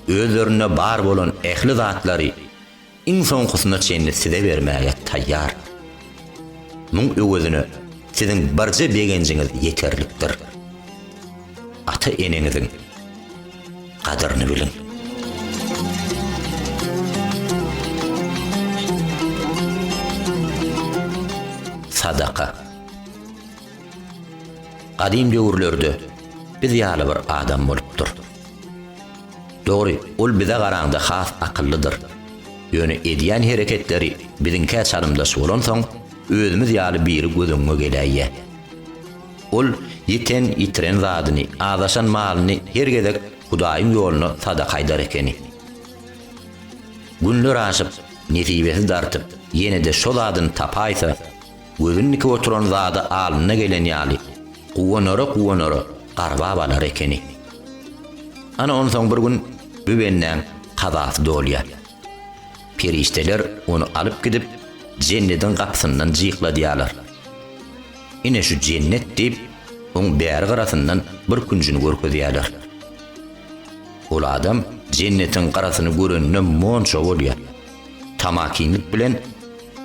özlerinde bar bolan ähli zatlary iň soňkusyna çenli size bermäge taýýar. Muň öwezine siziň birje begenjiňiz ýeterlikdir. Ata-eneňiziň gadyryny biliň. Sadaka. Gadym döwürlerde biz ýaly bir adam bolupdyr. Dogry, ol bize garaňda has akyllydyr. Ýöne edýän hereketleri biziňkä çalymdaş bolansoň, özümiz ýaly biri göz öňüňe geläýýä. Ol ýiten, ýitiren zadyny, azaşan malyny her gezek Hudaýyň ýoluna sadaka aýdar ekeni. Günler aşyp, nesibesi dartyp, ýene-de şo zadyny tapaýsa, gözüni dikip oturan zady alnyna gelen ýaly, guwanara-guwanara garbap alar ekeni. Ana, onsoň bir gün bu bendäň kazasy dolýar. Perişdeler ony alyp gidip, Jennediň gapysyndan jykladýarlar. Ine şu jennet diýip, oň bäri garasyndan bir künjini görkezýärler. Ol adam jennetiň garasyny görende monça bolýar. Tamakinlik bilen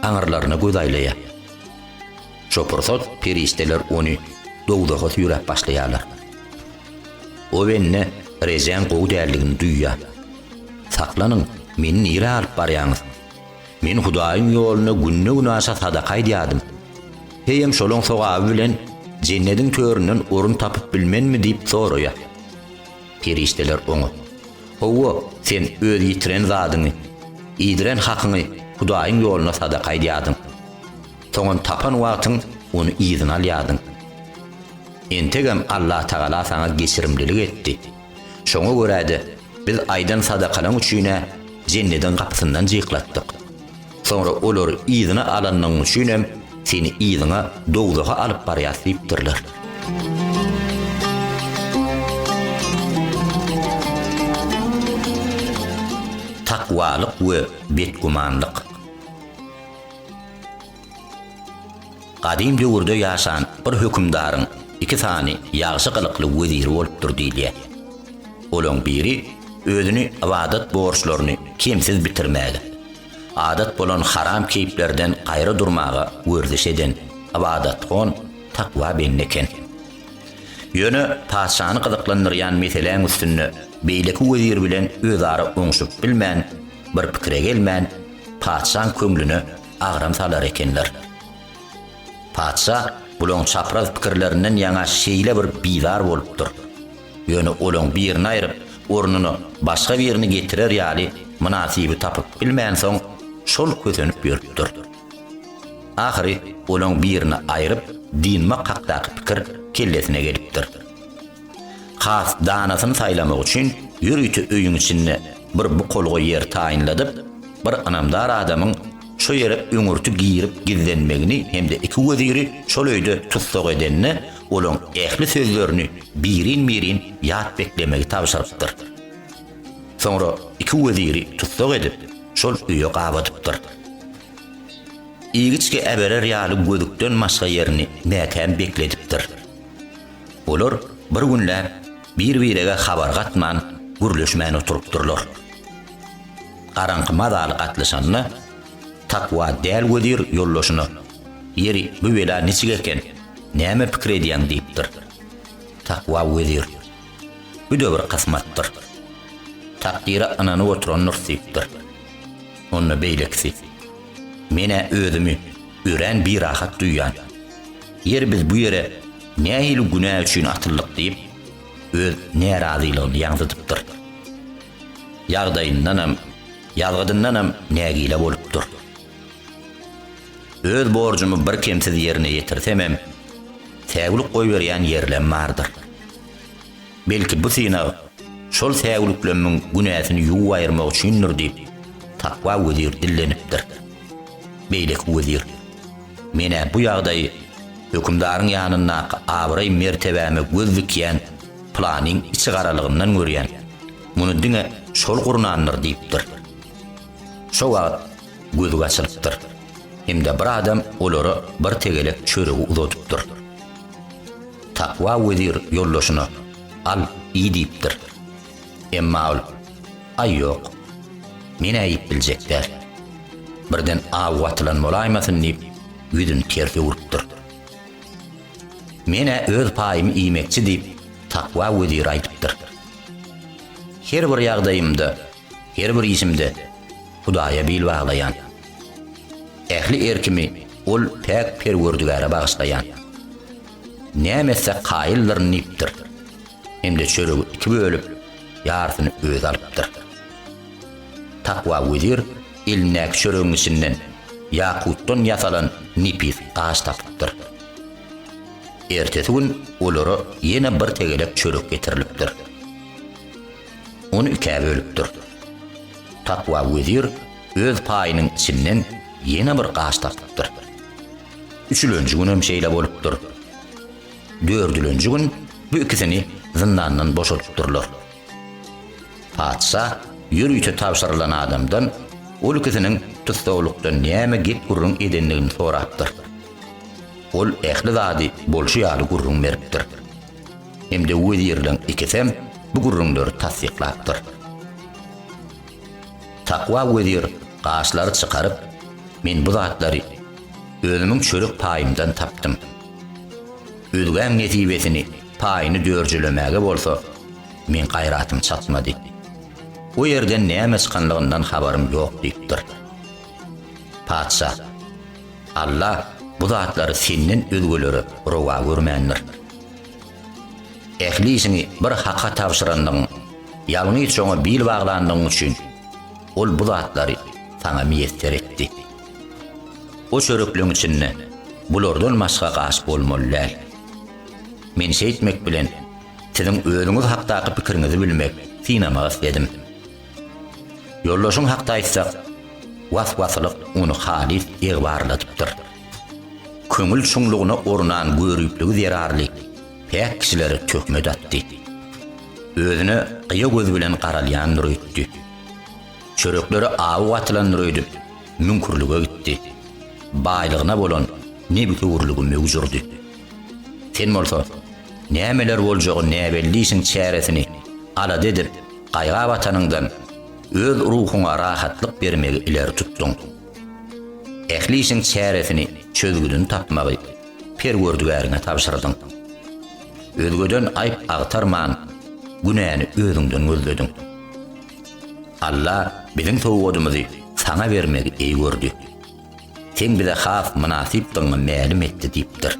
aňyrlaryna göz aýlaýar. Şo pursat perişdeler ony dowzaha süýräp başlaýarlar. O bende rejäň gowy däldigini duýýar. Saklanyň, meni nirä alyp barýaňyz? Men Hudaýyň ýoluna günde-günaşa sadaka aýdýardym. Heýem şolaň sogaby bilen Jennediň töründen orun tapyp bilmenmi diýip soraýar. Perişdeler oňa, Hawa, sen öz ýitiren zadyňy, iýdiren hakyňy Hudaýyň ýoluna sadaka aýdýardyň. Soňam tapan wagtyň ony yzyna alýardyň. Entegem Allatagala saňa geçirimlilik etdi. Şoňa görä-de, biz aýdan sadakalaň üçin-ä Jennediň gapysyndan jyklatdyk. Soňra olary yzyna alanyň üçinem seni yzyňa dowzaha alyp barýas diýipdirler. Takwalyk we betgümanlyk. Gadym döwürde ýaşan bir hökümdaryň iki sany ýagşy gylykly weziri bolupdyr diýilýär. Olaň biri özüni ybadat borçlaryny kemsiz bitirmäge, adat bolan haram keýplerden gaýry durmaga werziş eden ybadathon, takwa bende eken. Ýöne patyşany gyzyklandyrýan meseläň üstünde beýleki wezir bilen özara oňşup bilmän, bir pikire gelmän, patyşaň köňlüne agram salar ekenler. Patyşa bulaň çapraz pikirlerinden ýaňa şeýle bir bizar bolupdyr. Ýöne olaň birini aýryp, ornuna başga birini getirer ýaly mynasyby tapyp bilmänsoň, şol kösenip ýörüpdir. Ahyry olaň birini aýryp, dynmak hakdaky pikir kellesine gelipdir. Has danasyny saýlamak üçin ýörite öýüň içinde bir bukulga ýer taýynladyp, bir ynamdar adamyň şo ýere öňürti girip gizlenmegini hem-de iki weziri şol öýde tussag edende, olaň ähli sözlerini birin-birin ýat beklemegi tabşyrypdyr. Soňra iki weziri tussag edip, şol öýe gabadypdyr. Igiçge äberer ýaly gözükden başga ýerini mäkäm bekledipdir. Olar bir günläp. Bir-birege habar gatman, gürleşmän oturypdyrlar. Garaňky mazaly gatlyşanda, Takwa däl wezir ýoldaşyna, Ýeri, bu bela niçik eken, näme pikir edýäň? diýipdir. Takwa wezir, Bu-da bir kysmatdyr. Takdyra ynanyp oturandyrys diýipdir. Onda beýlekisi, Men-ä özümi örän birahat duýýan. Ýeri biz bu ýere Nähili günä üçin atyldyk diýip, öz närazylygyny ýaňzydypdyr. Ýagdaýyndanam, ýazgydyndanam nägile bolupdyr. Öz borjumy birkemsiz ýerine ýetirsemem, säwlik goýberýän ýerlem bardyr. Belki bu synag şol säwliklemmiň günäsini ýuwup aýyrmak üçindir diýip, Takwa wezir dillenipdir. Beýleki wezir, Men-ä bu ýagdaýy hökümdaryň ýanyndaky abraý-mertebäme göz dikýän pylanyň içi garalygyndan görýän, muny diňe şol gurnandyr diýipdir. Şo wagt gözi gaçylypdyr hem-de bir adam olara bir tegelek çöregi uzadypdyr. Takwa wezir ýoldaşyna, Al, iý diýipdir. Emma ol, Aý, ýok. Men-ä iýip biljek däl. Birden aw watylan bolaýmasyn diýip, ýüzüni ters öwrüpdir. Men-ä öz paýymy iýmekçi diýip, takwa wezire aýdypdyr. Her bir ýagdaýymda Her bir işimde Hudaýa bil baglaýan. Ähli erkimi Ol päk Perwerdigäre bagyşlaýan. Näme etse kaýyldyryn diýipdir. Hem-de çöregi iki bölüp, ýarsyny özi alypdyr. Takwa wezir elindäki çöregiň içinden ýakutdan ýasalan nepis gaş tapypdyr. Ertesi gün olara ýene bir tegelek çörek getirilipdir. Ony ikä bölüpdir. Takwa wezir öz paýynyň içinden ýene bir gaş tapypdyr. Üçülenji gün hem şeýle bolupdyr. Dördülenji gün bu ikisini zyndandan boşadypdyrlar. Patyşa ýörite tabşyrylan adamdan ol ikisiniň tussaglykda näme gep-gürrüň edendigini sorapdyr. Ol ähli zady bolşy ýaly gürrüň beripdir. Hem-de wezirleriň ikisem bu gürrüňleri tassyklapdyr. Takwa wezir gaşlary çykaryp, Men bu zatlary özümiň çörek paýymdan tapdym. Özgäň nesibesini, paýyny dörjülemäge bolsa, meň gaýratym çatmady. O ýerden näme çykanlygyndan habarym ýok diýipdir. Patyşa. Alla bu zatlary senden özgelere rowa görmändir. Ähli işiňi bir Haka tabşyrandygyň, ýalňyş oňa bil baglandygyň üçin Ol bu zatlary saňa miýesser etdi. O çörekleň içinde bulardan başga gaş bolmaly däl. Men şeýtmek bilen, siziň özüňiz hakdaky pikiriňizi bilmek, synamagy isledim. Ýoldaşyň hakda aýtsak, was-waslyk ony halys egbarladypdyr. Köňül çuňlugyna ornan göripligi zerarly päk kişilere töhmet atdy. Özüne gyýa göz bilen garalýandyr öýtdi. Çöreklere awy gatylandyr öýdüp, müňkürlige gitdi. Baýlygyna bolan nebsewürligi möwjürdi. Sen bolsa, nämeler boljagy näbellişiň çäresini alada edip, Gaýga batanyňdan öz ruhuňa rahatlyk bermegi ileri tutduň. Ähli işiň çäresini, çözgüdini tapmagy Perwerdigäriňe tabşyrdyň. Özgeden aýp agtarman, günäni özüňden gözlediň. Alla biziň sowgadymyzy saňa bermegi eý gördi. Sen bize has mynasypdygyňy mälim etdi diýipdir.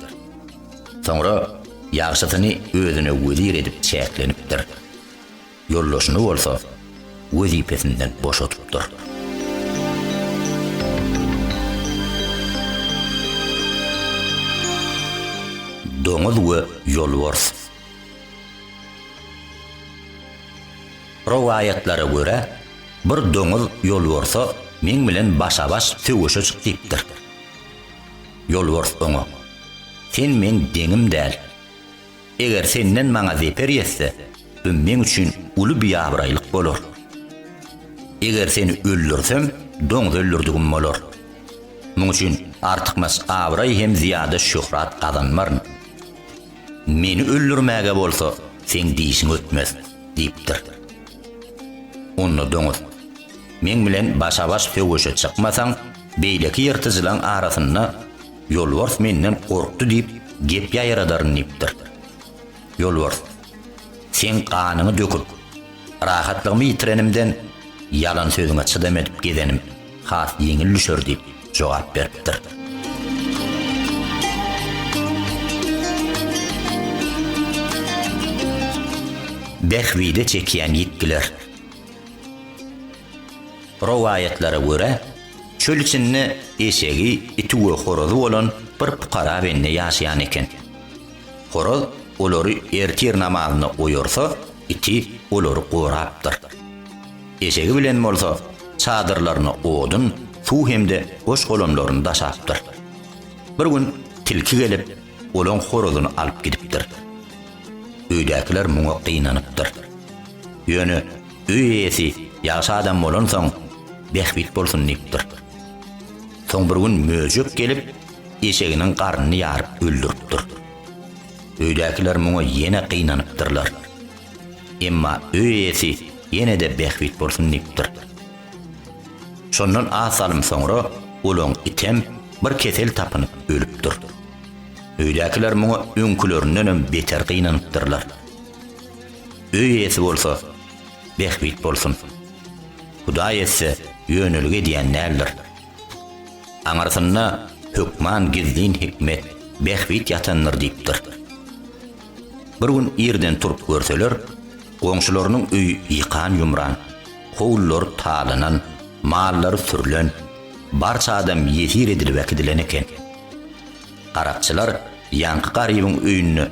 Soňra ýagşysyny özüne wezir edip çäklenipdir. Ýoldaşyny bolsa wezipesinden boşadypdyr. Doňuz we ýolbars. Rowaýatlara görä, bir doňuz ýolbarsa meň bilen başa-baş söweşe çyk diýipdir. Ýolbars oňa, Sen meň deňim däl. Eger senden maňa zeper ýetse, bu meň üçin uly biabraýlyk bolar. Eger seni öldürsem, doňuz öldürdigim bolar. Muň üçin artykmaç abraý hem zyýada şöhrat gazanmaryn. Meni öldürmäge bolsa seň dişiň ötmez, diýipdir. Onda doňuz, Meň bilen başa-baş söweşe çykmasaň, beýleki ýyrtyjylaň arasynda Ýolbars menden gorkdy diýip, gep ýaýradaryn diýipdir. Ýolbars, Seň ganyňy döküp, rahatlygymy ýitirenimden ýalan sözüňe çydam edip gezenim has ýeňil düşer diýip jogap beripdir. Bähbide çekýän ýitgiler. Rowaýatlara görä, çöl içinde eşegi, iti we horazy bolan bir pukara bende ýaşaýan eken. Horaz olary ertir namazyna oýarsa, iti olary gorapdyr. Eşegi bilen bolsa çadyrlaryna odun, suw hem-de goş-golamlaryny daşapdyr. Bir gün tilki gelip, olaň horazyny alyp gidipdir. Öýdäkiler muňa gynanypdyr. Ýöne Öý eýesi ýagşy adam bolansoň, bähbit bolsun diýipdir. Soň bir gün möjek gelip, eşeginiň garnyny ýaryp öldüripdir. Öýdäkiler muňa ýene gynanypdyrlar. Emma öý eýesi ýene-de bähbit bolsun diýipdir. Şondan az salym soňra olaň item bir kesel tapynyp ölüpdir. Öýdäkiler muňa öňkülerindenem beter gynanypdyrlar. Öý eýesi bolsa, Bähbit bolsun. Hudaý etse, ýönelige edýän däldir. Aňyrsynda hökman gizlin hikmet, bähbit ýatandyr diýipdir. Bir gün irden turup görseler, goňşularynyň öýi ýykan-ýumran, howlulary talanan, mallary sürlen, barça adam ýesir edilip äkidileni eken. Garakçylar ýaňky Garybyň öýünde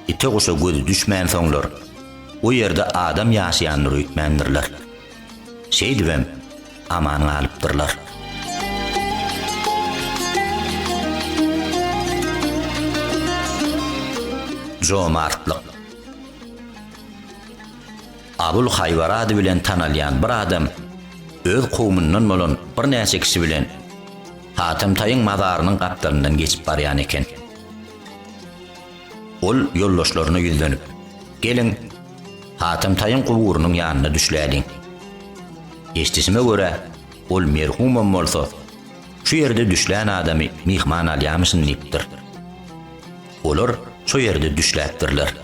ite-guşa gözi düşmänsoňlar, o ýerde adam ýaşaýandyr öýtmändirler. Şeýdibem aman galypdyrlar. Jomartlyk. Abul Haýbar ady bilen tanalýan bir adam öz kowumyndan bolan birnäçe kişi bilen, Atamtaýyň mazarynyň gapdalyndan geçip barýan eken. Ol ýoldaşlaryna ýüzlenip, Geliň, Atamtaýyň guburynyň ýanyna düşläliň. Eşdişime görä, ol merhumam bolsa, şu ýerde düşlän adamy myhman alýamyşyn diýipdir. Olar şo ýerde düşläpdirler.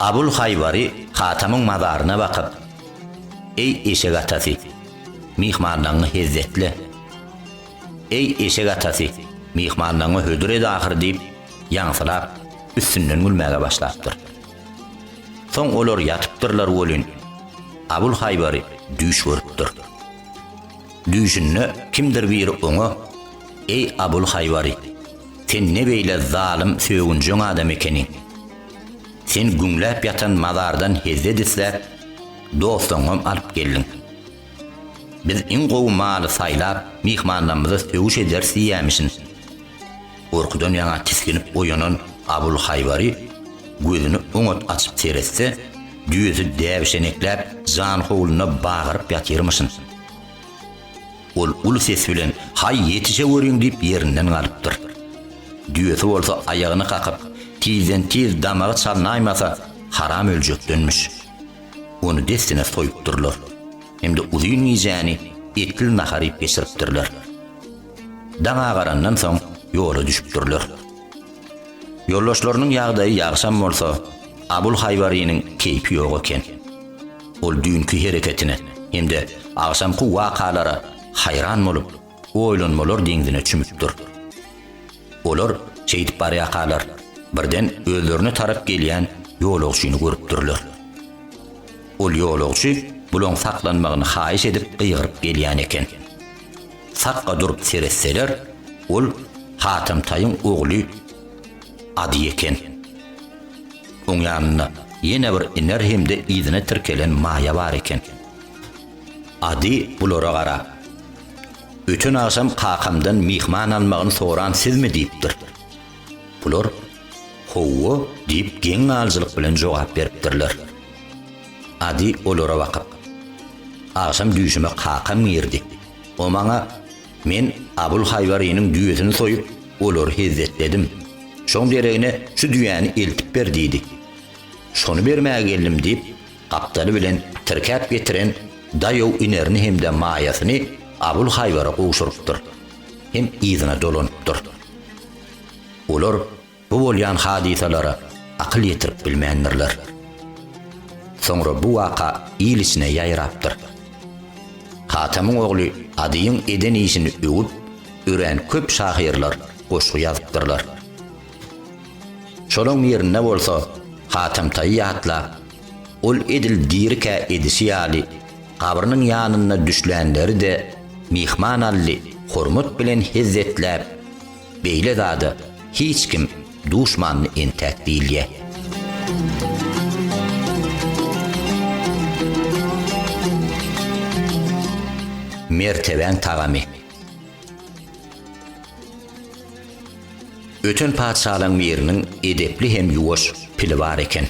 Abul Haýbary Hatamyň mazaryna bakyp, Eý eşek atasy! Myhmanlaňňy hezzetle. Eý, eşek atasy, myhmanlaňňy hödür ed ahyry diýip, ýaňsylap, üstünden gülmäge başlapdyr. Soň olar ýatypdyrlar welin, Abul Haýbary düýş görüpdir. Düýşünde kimdir biri oňa, Eý, Abul Haýbary, sen ne beýle zalym, sögünjeň adam ekeniň. Sen güňläp ýatan mazardan hezzet isläp, Dostuňam alyp geldiň. Biz iň gowy maly saýlap, myhmanlarymyza söwüş ederis diýýämişin. Gorkudan ýaňa tisginip oýanan Abulhaýbary gözüni oňat açyp seretse, düýesi däbişenekläp, janhowluna bagyryp ýatyrmyşyn. Ol uly ses bilen Haý, ýetişeweriň diýip ýerinden galypdyr. Düýesi bolsa aýagyny kakyp, tizden-tiz damagy çalnaýmasa, haram öljekdenmiş. Ony dessine soýupdyrlar hem-de uzyn gijäni etli nahar iýip geçiripdirler. Daň agarandan soň ýola düşüpdirler. Ýoldaşlarynyň ýagdaýy ýagşam bolsa, Abul Haýwarynyň keýpi ýok eken. Ol düýnki hereketine hem-de agşamky wakalara haýran bolup, oýlanmalar deňzine çümüp dur. Olar şeýdip barýarkalar, birden özlerine tarap gelýän ýolagçyny görüpdirler. Ol ýolagçy bulaň saklanmagyny haýyş edip gygyryp gelýän eken. Sakga durup seretseler, ol Hatamtaýyň ogly Ady eken. Oň ýanynda ýene bir Iner hem-de yzyna tirkelen Maýa bar eken. Ady bulara garap, Öten agşam kakamdan myhman almagyny soran sizmi? diýipdir. Bular, Howwa diýip geň galyjylyk bilen jogap beripdirler. Ady olara bakyp, Agşam düýşüme kakam girdi. O maňa, Men Abul Haýwarynyň düýesini soýup, olary hezzetledim. Şoň deregine şu düýäni eltip ber diýdi. Şony bermäge geldim diýip, Gapdaly bilen tirkäp getiren daýaw inerini hem-de maýasyny Abulhaýbara gowşurypdyr hem yzyna dolanypdyr. Olar bu bolýan hadysalara akyl ýetirip bilmändirler. Soňra bu waka il içine ýaýrapdyr. Hatamyň ogly Adyýyň eden işini öwüp, örän köp şahyrlar goşgy ýazypdyrlar. Şolaň ýerine bolsa Hatemtaýy ýatlap, ol edil dirikä edişi ýaly, gabrynyň ýanynda düşlänleri-de myhmanally hormat bilen hezzetläp, beýle zada hiç kim duşmandy entäk diýilýär. Mertebäň tagamy. Öten patyşalaň biriniň edepli hem ýuwaş pili bar eken.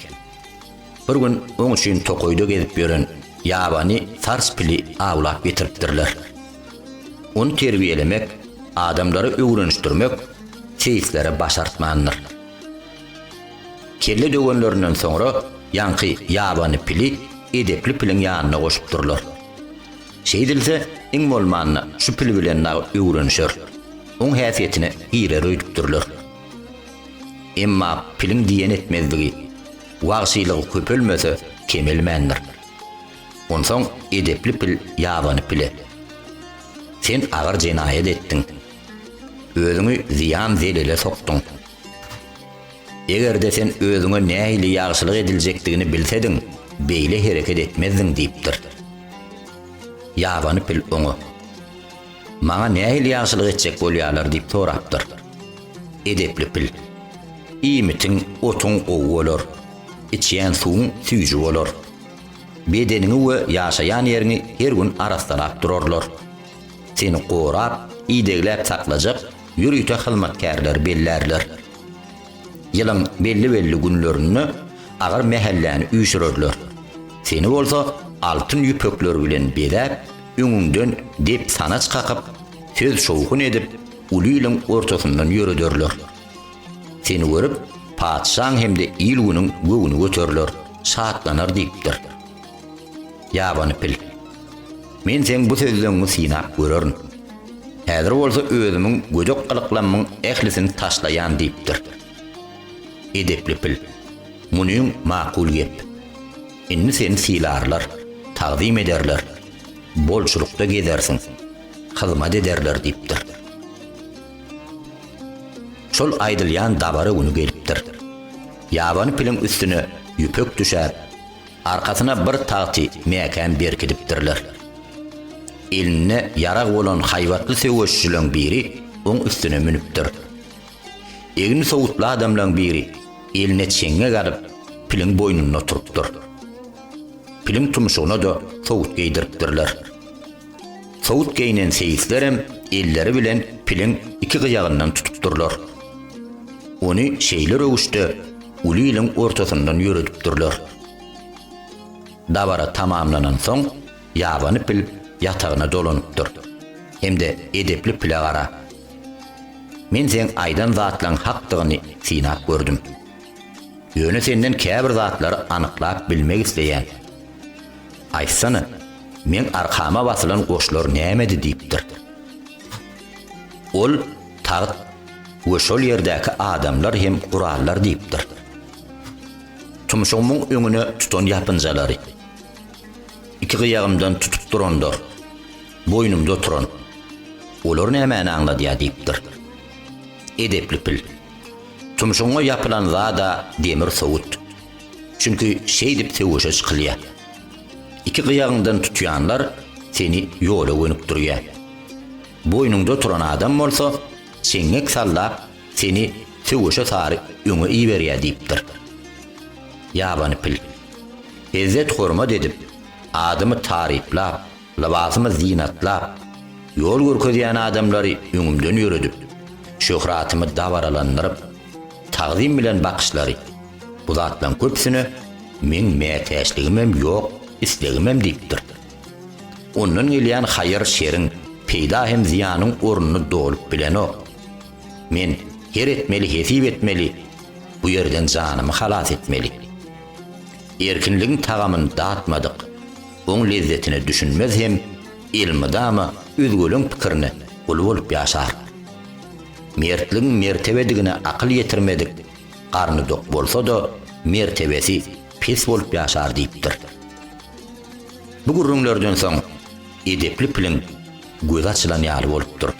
Bir gün oň üçin tokaýda gezip ýören ýabany sars pili awlap getiripdirler. Ony terbiýelemek, adamlara öwrenişdirmek seislere başartmandyr. Kelle döwenlerinden soňra ýaňky ýabany pili edepli piliň ýanyna goşupdyrlar. Şeýdilse, iň bolmanda, şu pil bilen nagt öwrenişer. Oň häsiýetine girer öýdüpdirler. Emma piliň diýen etmezligi, wagşylygy köpelmese, kemelmändir. Onsoň edepli pil ýabany pile, Sen agyr jenaýat etdiň. Özüňi zyýan-zelele sokduň. Eger-de sen özüňe nähili ýagşylyk ediljekdigini bilsediň, beýle hereket etmezdiň diýipdir. Ýabany pil oňa, Maňa nähili ýagşylyk etjek bolýarlar diýip sorapdyr. Edepli pil, Iýmitiň, otuň gowy bolar, içýän suwuň süýji bolar. Bedeniňi we ýaşaýan ýeriňi her gün arassalap durarlar. Seni gorap, idegläp saklajak ýörite hyzmatkärleri bellärler. Ýylyň belli-belli günlerinde agyr mähelläni üýşürerler. Seni bolsa altyn ýüpekler bilen bezäp, öňüňden dep-sanaç kakyp, söz-şowhun edip, uly iliň ortasyndan ýörederler. Seni görüp, patyşaň hem-de il-günüň göwni göteriler, şatlanar diýipdir. Ýabany pil. Men seň bu sözleňňi synap görerin. Häzir bolsa özümiň gödek gylyklammyň ählisini taşlaýan diýipdir. Edepli pil. Munyň makul gep. Indi seni sylarlar, tagzym ederler, bolçulykda gezersiň, hyzmat ederler diýipdir. Şol aýdylýan dabara güni gelipdir. Ýabany piliň üstüne ýüpek düşäp, Arkasyna bir tagty mäkäm berkidipdirler. Elinde ýarag bolan haýbatly söweşijileriň biri oň üstüne münüpdir. Egni sowutly adamlaň biri eline çeňňek alyp, piliň boýnunda oturypdyr. Piliň tumşugyna-da sowut geýdiripdirler. Sowut geýnen seýislerem elleri bilen piliň iki gyýagyndan tutup durlar. Ony şeýle röwüşde uly iliň ortasyndan ýöredip durlar. Dabara tamamlanansoň, ýabany pil ýatagyna dolanypdyr. Hem-de edepli pile gara. Men seň aýdan zatlaň hakdygyny synap gördüm. Ýöne senden käbir zatlary anyklap bilmek isleýän. Aýtsana, meň arkama basylan goşlar nämedi diýipdir. Ol, Tagt we şol ýerdäki adamlar hem gurallar diýipdir. Tumşugymyň öňüne tutan ýapynjalary, iki gyýagymdan tutup duranlar, boýnumda oturan, olar nämäni aňladýar diýipdir. Edepli pil. Tumşugyňa ýapylan zad-a demir sowut. Çünki şeýdip söweşe çykylýar. Iki gyýagyňdan tutýanlar seni ýola gönükdirýär. Boýnuňda turan adam bolsa çeňňek sallap seni söweşe sary öňe iberýär diýipdir. Ýabany pil. Ezzet-hormat edip, adymy taryplap, lybasymy zynatlap, ýol görkezýän adamlary öňümden ýöredip, şöhratymy dabaralandyryp, tagzym bilen bakyşlary, Bu zatlaryň köpüsine meň mätäçligimem ýok, islegimem diýipdir. Ondan gelýän haýyr-şeriň, peýda hem zyýanyň ornuny dolup bilenok. Men her etmeli hesip etmeli, bu ýerden janymy halas etmeli. Erkinligiň tagamyny datmadyk, oň lezzetine düşünmez hem elmydama özgeleň pikirine gul bolup ýaşaryk. Mertligiň mertebedigine akyl ýetirmedik, Garny dok bolsa-da, mertebesi pes bolup ýaşar diýipdir. Bu gürrüňlerden soň edepli piliň gözi açylan ýaly bolupdyr.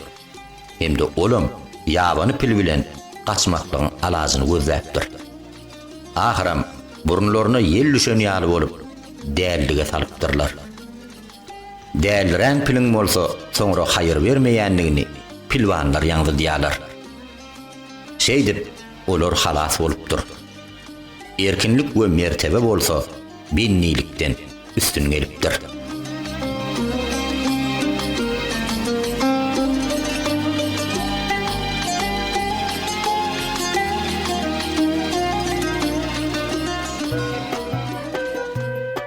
Hem-de olam ýabany pil bilen gaçmaklygyň alajyny gözläpdir. Ahyram, burunlaryna ýel düşen ýaly bolup, dällige salypdyrlar. Dälirän piliň bolsa soňra haýyr bermeýändigini pilwanlar ýaňzydýarlar. Şeýdip, olar halas bolupdyr. Erkinlik we mertebe bolsa bennilikden üstün gelipdir.